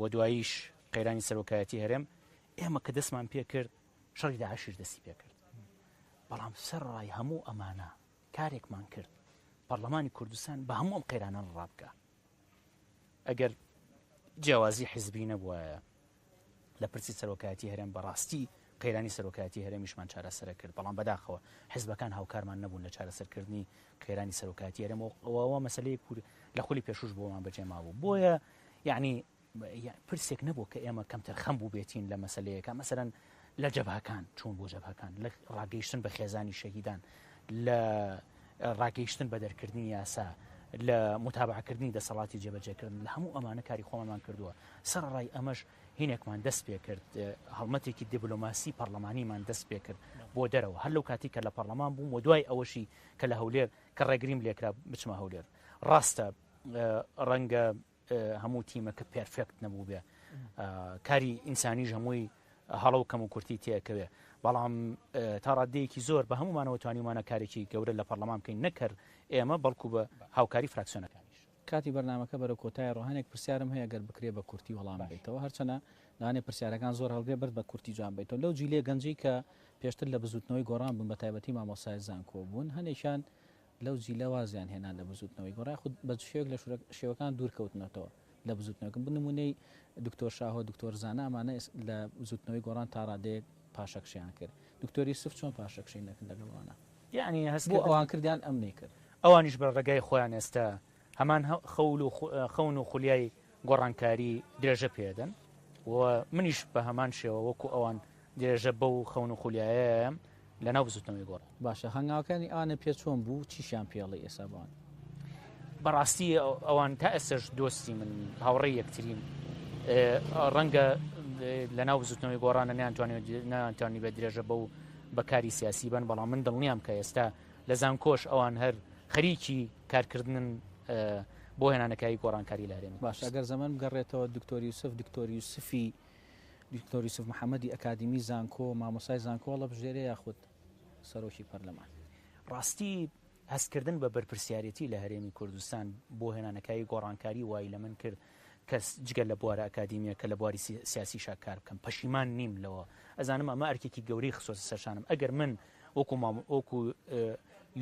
و دواییش قەیرانی سەرۆکایەتی هەرێم ئێمە کە دەستمان پێکرد شەڕی داعشیش دەستی پێکرد بەڵام سەر ڕای هەموو ئەمانە کارێکمان کرد پەرلەمانی کوردستان بە هەموو ئەم قەیرانە ڕابکە ئەگەر جیاوازی حزبی نەبووە لە پرسی سەرۆکایەتی هەرێم بەڕاستی قەیرانی سەرۆکایەتی هەرێمیشمان چارەسەرە کرد، بەڵام بەداخەوە حزبەکان هاوکارمان نەبوون لە چارەسەرکردنی قەیرانی سەرۆکایەتی هەرێم و ئەوە مەسەلەیەک بوو لە خولی پێشووش بۆمان بەجێ مابوو، بۆیە یەعنی پرسێک نەبوو کە ئێمە کەمتەرخەم بووبێتین لە مەسەلەیەکە مەسەلەن لە جەبهەکان چوون بۆ جەبهەکان لە ڕاگەیشتن بە خێزانی شەهیدان لە ڕاگەیشتن بە دەرکردنی یاسا لە متابعکردنی دەسەڵاتی جێبەجێکردن لە هەموو ئەمانە کاری خۆمانمان کردووە سەرڕای ئەمەش هینێکمان دەست پێ کرد هەڵمەتێکی دیبلۆماسی پەرلەمانیمان دەست پێ کرد بۆ دەرەوە هەر لەو کاتی کە لە پەرلەمان بووم و دوای ئەوەشی کە لە هەولێر کە ڕێگریم لێکرا بچمە هەولێر ڕاستە ڕەنگە هەموو تیمەکە پێرفێکت نەبوو بێ کاری ئینسانیش هەمووی هەڵە و کەم و کورتی تێکەوێ بەڵام تا ڕادەیەکی زۆر بە هەمومانەوە توانیمانە کارێکی گەورە لە پەرلەمان بکەین نەکرد ئێمە بەڵکو بە هاوکاری فراکسیۆنەکانیش کاتی بەرنامەکە بەرەو کۆتایەڕۆ هەنێک پرسیارم هەیە گەر بکرێ بە کورتی وەڵام باش. بدەیتەوە هەرچەنە لەوانەیە پرسیارەکان زۆر هەڵگرێ بەس بە کورتی جوان بەیتەوە لەو جیلەی گەنجەی کە پێشتر لە بزوتنەوەی گۆڕان بوون بەتایبەتی مامۆستای زانکۆ بوون هەنێکیان لەو جیلە وازیان هێنا لە بزوتنەوەی گۆڕان یاخود بە چ شێوەیەک لە شورە شێوەکان دوور کەوتنەتەوە لە بزوتنەوەکە بۆ نمونەی دکتۆر شاهۆ دکتۆر زانا ئەمانە ئێس لە بزوتنەوەی گۆڕان تا ڕادەیەک پاشەکشەیان کرد دکتۆر یوسف چۆن پاشەکشەی نەکرد لەگەڵ ئەوانە؟ یەعنی هەست بۆ ئەوان کردیان ئەم نەیکرد. ئەوانیش بە ڕێگای خۆیان ئێستا هەمان خەول و خەون و خولیای گۆڕانکاری درێژە پێدەن و منیش بە هەمان شێوە وەکو ئەوان درێژە بەو خەون و خولیایەم لە ناو بزوتنەوەی گۆڕ. باشە هەنگاوەکانی ئەوانە پێ چۆن بوو چیشیان پێڵی ئێسا بوان؟ بەڕاستی ئەوان تا ئێسش دۆستی من هاوڕێ یەکترین ڕەنگە لە ناو بزوتنەوەی گۆڕانە نیانتوانانی بە درێژە بەو بە کاری سیاسی بن بەڵام من دڵنیام کە ئێستا لە زانکۆش ئەوان هەر خەریکی کارکردنن بۆ هێنانەکاری گۆڕانکاری لە هەرێم باش ئەگەر زەمن بگەڕێتەوە دکتۆری یوسف دکتۆری یوسفی دکتۆری یوسف محەممەدی ئەکادمی زانکۆ مامۆسای زانکۆڵە بژێرە یاخود سەرۆکی پەرلەمان ڕاستی هەستکردن بە بەرپرسیارەتی لە هەرێمی کوردستان بۆ هێنانەکاری گۆڕانکاری وای لە من کرد کەس جگە لە بوارە ئەکادیمیەکە لە بواری سیاسیشا کار بکەم پەشیمان نیم لەوە ئەزانم ئەمە ئەرکێکی گەورەی خستۆتە سەرشانم ئەگەر من وەکو مام وەکو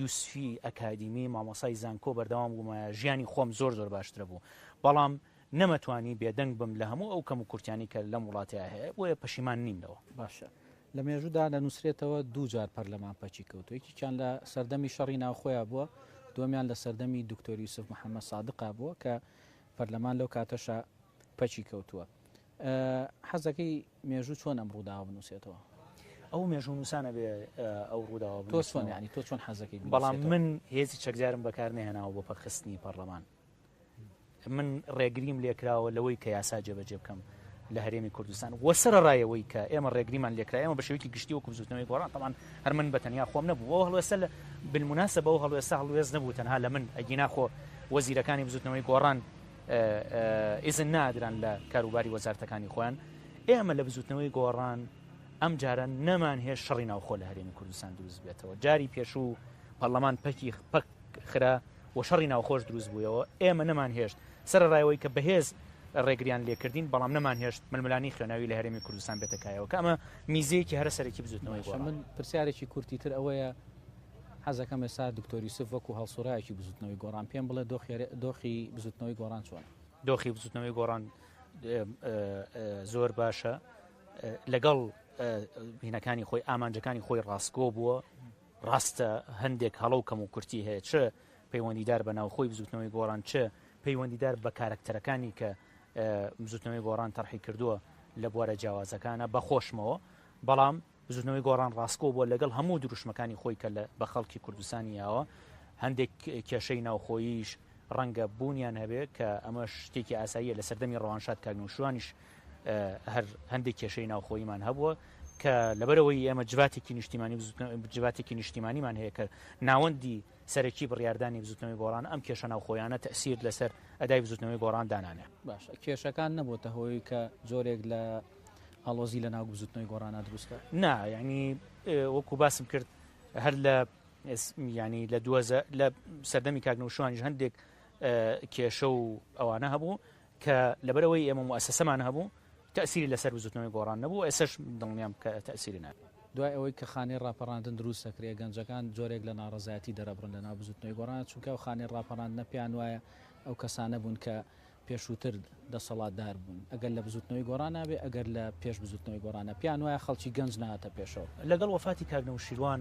یوسفی ئەکادیمی مامۆسای زانکۆ بەردەوام بوومایە ژیانی خۆم زۆر زۆر باشترە بوو بەڵام نەمەتوانی بێدەنگ بم لە هەموو ئەو کەم و کورتیانی کە لەم وڵاتەیە هەیە بۆیە پەشیمان نیم لەوە باشە لە مێژودا لە نووسرێتەوە دوو جار پەرلەمان پەچی کەوت یەکیان لە سەردەمی شەڕی ناوخۆیان بووە دومیان لە سەردەمی دکتۆری یوسف محەممەد سادقا بووە کە پەرلەمان لەو کاتەشا پەکی کەوتووە. حەزدەکەی مێژوو چۆن ئەم ڕووداوە بنووسێتەوە؟ ئەو مێژوونووسانە بێ ئەو ڕووداوە بنووسنەوە. تۆ چۆن یانی تۆ چۆن حەزەکەی بنووسێتەوە؟ بەڵام من هێزی چەکدارم بەکار نەهێناوە بۆ پەکخستنی پەرلەمان. من ڕێگریم لێکراوە لەوەی کە یاسا جێبەجێ بکەم. لە هەرێمی کوردستان وە سەرەڕایەوەی کە ئێمە ڕێگریمان لێکرا ئێمە بە شێوەیەکی گشتی وەکو بزوتنەوەی گۆڕان تەمان هەر من بە تەنیا خۆم نەبوو بۆ هەڵوێستە لە بالمناسە بەو هەڵوێستە هەڵوێست نەبوو تەنها لە من ئەگینا خۆ وەزیرەکانی بزوتنەوەی گۆڕان ئیزن نادران لە کاروباری وەزارتەکانی خۆیان ئێمە لە بزوتنەوەی گۆڕان ئەم جارە نەمان هێش شەڕی ناوخۆ لە هەرێمی کوردستان دروست بێتەوە جاری پێشوو پەرلەمان پەکی پەک خرا و شەڕی ناوخۆش دروست بوویەوە، ئێمە نەمانهێشت سەرەڕای ئەوەی کە بەهێز ڕێگریان لێکردین، بەڵام نەمانهێشت ململانێی خوێناوی لە هەرێمی کوردستان بێتە کایەوە، کە ئەمە میزەیەکی هەرە سەرەکی بزووتنەوەی گۆڕان بوو. من پرسیارێکی کورتی تر ئەوەیە، حەزەکەم ئێستا دکتۆر یوسف وەکو هەڵسوڕاوێکی بزووتنەوەی گۆڕان پێم بڵێت دۆخی دۆخی بزووتنەوەی گۆڕان چۆنە؟ دۆخی بزووتنەوەی گۆڕان زۆر باشە، لەگەڵ هینەکانی خۆی، ئامانجەکانی خۆی ڕاستگۆ بووە، ڕاستە هەندێک هەڵە و کەموکورتی هەیە چ پەیوەندیدار بە ناوخۆی بزوتنەوەی گۆڕان چ پەیوەندیدار بە کارەکتەرەکانی کە بزوتنەوەی گۆڕان تەرحی کردووە لە بوارە جیاوازەکانە بە خۆشمەوە بەڵام بزوتنەوەی گۆڕان ڕاستکۆ بووە لەگەڵ هەموو دروشمەکانی خۆی کە بە خەڵکی کوردستانی یاوە هەندێک کێشەی ناوخۆییش ڕەنگە بوونیان هەبێ کە ئەمە شتێکی ئاساییە لە سەردەمی ڕەوانشاد کاگنوشوانیش هەر هەندێک کێشەی ناوخۆییمان هەبووە کە لەبەرەوەی ئێمە جواتێکی نیشتیمانی جواتێکی نیشتیمانیمان هەیە کە ناوەندی سەرەکی بڕاردانی بزوتنەوەی گۆڕان ئەم کێشە ناوخۆیانە تەسیر لەسەر ئەدای بزوتنەوەی گۆڕان دانانێ باش کێشەکان نەبووتە هۆی کە زۆرێک لە ئاڵۆزی لە ناو بزوتنەوەی گۆڕانە دروستکە نا ینی وەکو باسم کرد هەر لە ینی لە دوزە لە سەردەمی کاکنەوشوانیش هەندێک کێشە و ئەوانە هەبوو کە لەبەرئەوەی ئێمە موئەسەسەمان هەبوو تەئسیری لەسەر بزوتنەوەی گۆڕان نەبوو و ئێسەش دڵنیام کە تەئسیری نابێت. دوای ئەوەی کە خانەی ڕاپەڕاندن دروست دەکرێت گەنجەکان جۆرێک لە ناڕەزایەتی دەرەبڕن لەناو بزوتنەوەی گۆڕان چونکە ئەو خانەی ڕاپەڕاندنە پێیان وایە ئەو کەسانە بوون کە پێشووتر دەسەڵاتدار بوون ئەگەر لە بزوتنەوەی گۆڕانا بێت ئەگەر لە پێش بزوتنەوەی گۆڕانە پێیان وایە خەڵکی گەنج نەهاتە پێشەوە. لەگەڵ وەفاتی کاک نەوشیروان،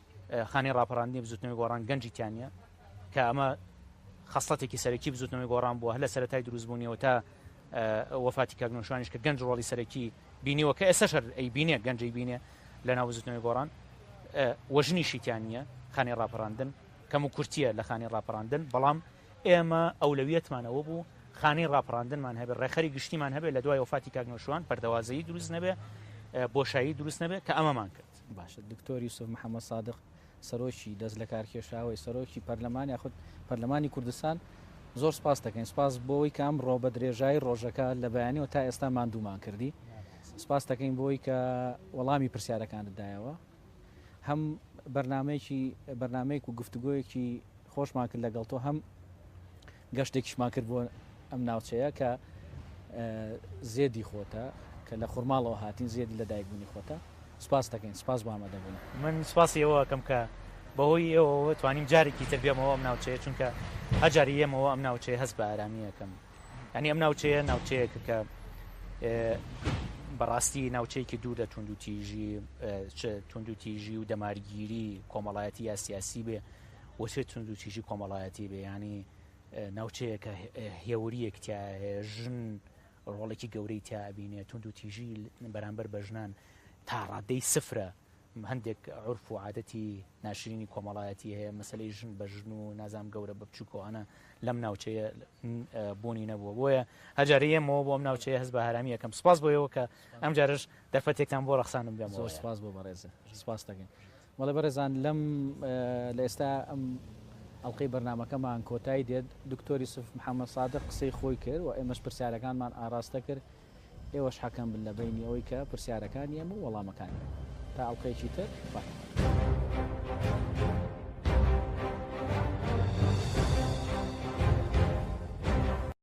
خانەی ڕاپەڕاندنی بزوتنەوەی گۆڕان گەنجی تیانە کە ئەمە خەسڵەتێکی سەرەکی بزوتنەوەی گۆڕان بووە هەر لە سەرەتای دروستبوونیەوە تا وەفاتی کاگنۆشوانیش کە گەنج ڕۆڵی سەرەکی بینیوە کە ئێستا شەر ئەی بینێ گەنجی بینێ لە ناو بزوتنەوەی گۆڕان وەژنی شیتیان نییە خانی ڕاپەڕاندن کەم و کورتیە لە خانی ڕاپەڕاندن بەڵام ئێمە ئەولەویەتمانەوە بوو خانی ڕاپەڕاندنمان هەبێ ڕێخەری گشتیمان هەبێ لە دوای وفاتی کاگنۆشوان پەردەوازەیی دروست نەبێ بۆشایی دروست نەبێ کە ئەمەمان کرد باشە دکتۆر یوسف محمد سادق سەرۆکی دەست لەکارکێشاوەی سەرۆکی پەرلەمان یاخود پەرلەمانی کوردستان زۆر سپاس دەکەین سپاس بۆەوەی کە ئەم ڕۆ بە درێژایی ڕۆژەکە لە بەیانەوە تا ئێستا مادوومان کردی سپاس دەکەین بۆی کە وەڵامی پرسیارەکانت دایەوە هەم بەرنمەیەکی بەرنمەیەک و گفتوگۆیەکی خۆشمان کرد لەگەڵ تۆ هەم گەشتێکیشمان کرد بۆ ئەم ناوچەیە کە زێدی خۆتە کە لە خورماڵەوە هاتین زێدی لە دایکبوونی خۆتە سپاس دەکەین سپاس بۆ ئامادەبوون من سپاسی ئەوە ئەکەم کە بەهۆی ئێوەوە توانیم جارێکی تر بێمەوە ئەم ناوچەیە چونکە هەجاری یەمەوە ئەم ناوچەیە هەست بە ئارامیەکەم ینی ئەم ناوچەیە ناوچەیە کە بەڕاستی ناوچەیەکی دوور لە توندوتیژی توندوتیژی و دەمارگیری کۆمەڵایەتی یا سیاسی بێ وەچێ توندوتیژی کۆمەڵایەتی بێ یانی ناوچەیە کە هێوریەک تایە ژن ڕۆڵێکی گەورەی تابینێ توندوتیژی بەرامبەر بە ژنان تا ڕادەی سفرە هەندێک عرف و عادەتی ناشرینی کۆمەڵایەتی هەیە مەسلەی ژن بە ژن و نازام گەورە بە بچووکۆانە لەم ناوچەیە بوونی نەبووە بۆیە هەجارەیە مەوە بۆم ناوچەیە هەز بە هەرامی یەکەم سپاس بۆیەوە کە ئەم جارش دەرفەتێکتان بۆ ڕخسانم بێم زۆر سپاس بۆ بەڕێزە سپاس دەکەین بەڵێ بەڕێزان لەم لە ئێستا ئەم ئەڵلقەی بەرنمەکەمان کۆتایی دێت دکتۆر یوسف محەممەد سادق قسەی خۆی کرد و ئێمەش پرسیارەکانمان ئاراستە کرد ئێوەش حەکەم بن لە بینی ئەوەی کە پرسیارەکان ئێمە و وەڵامەکانی تا ئەڵلقەیەکی تر بە.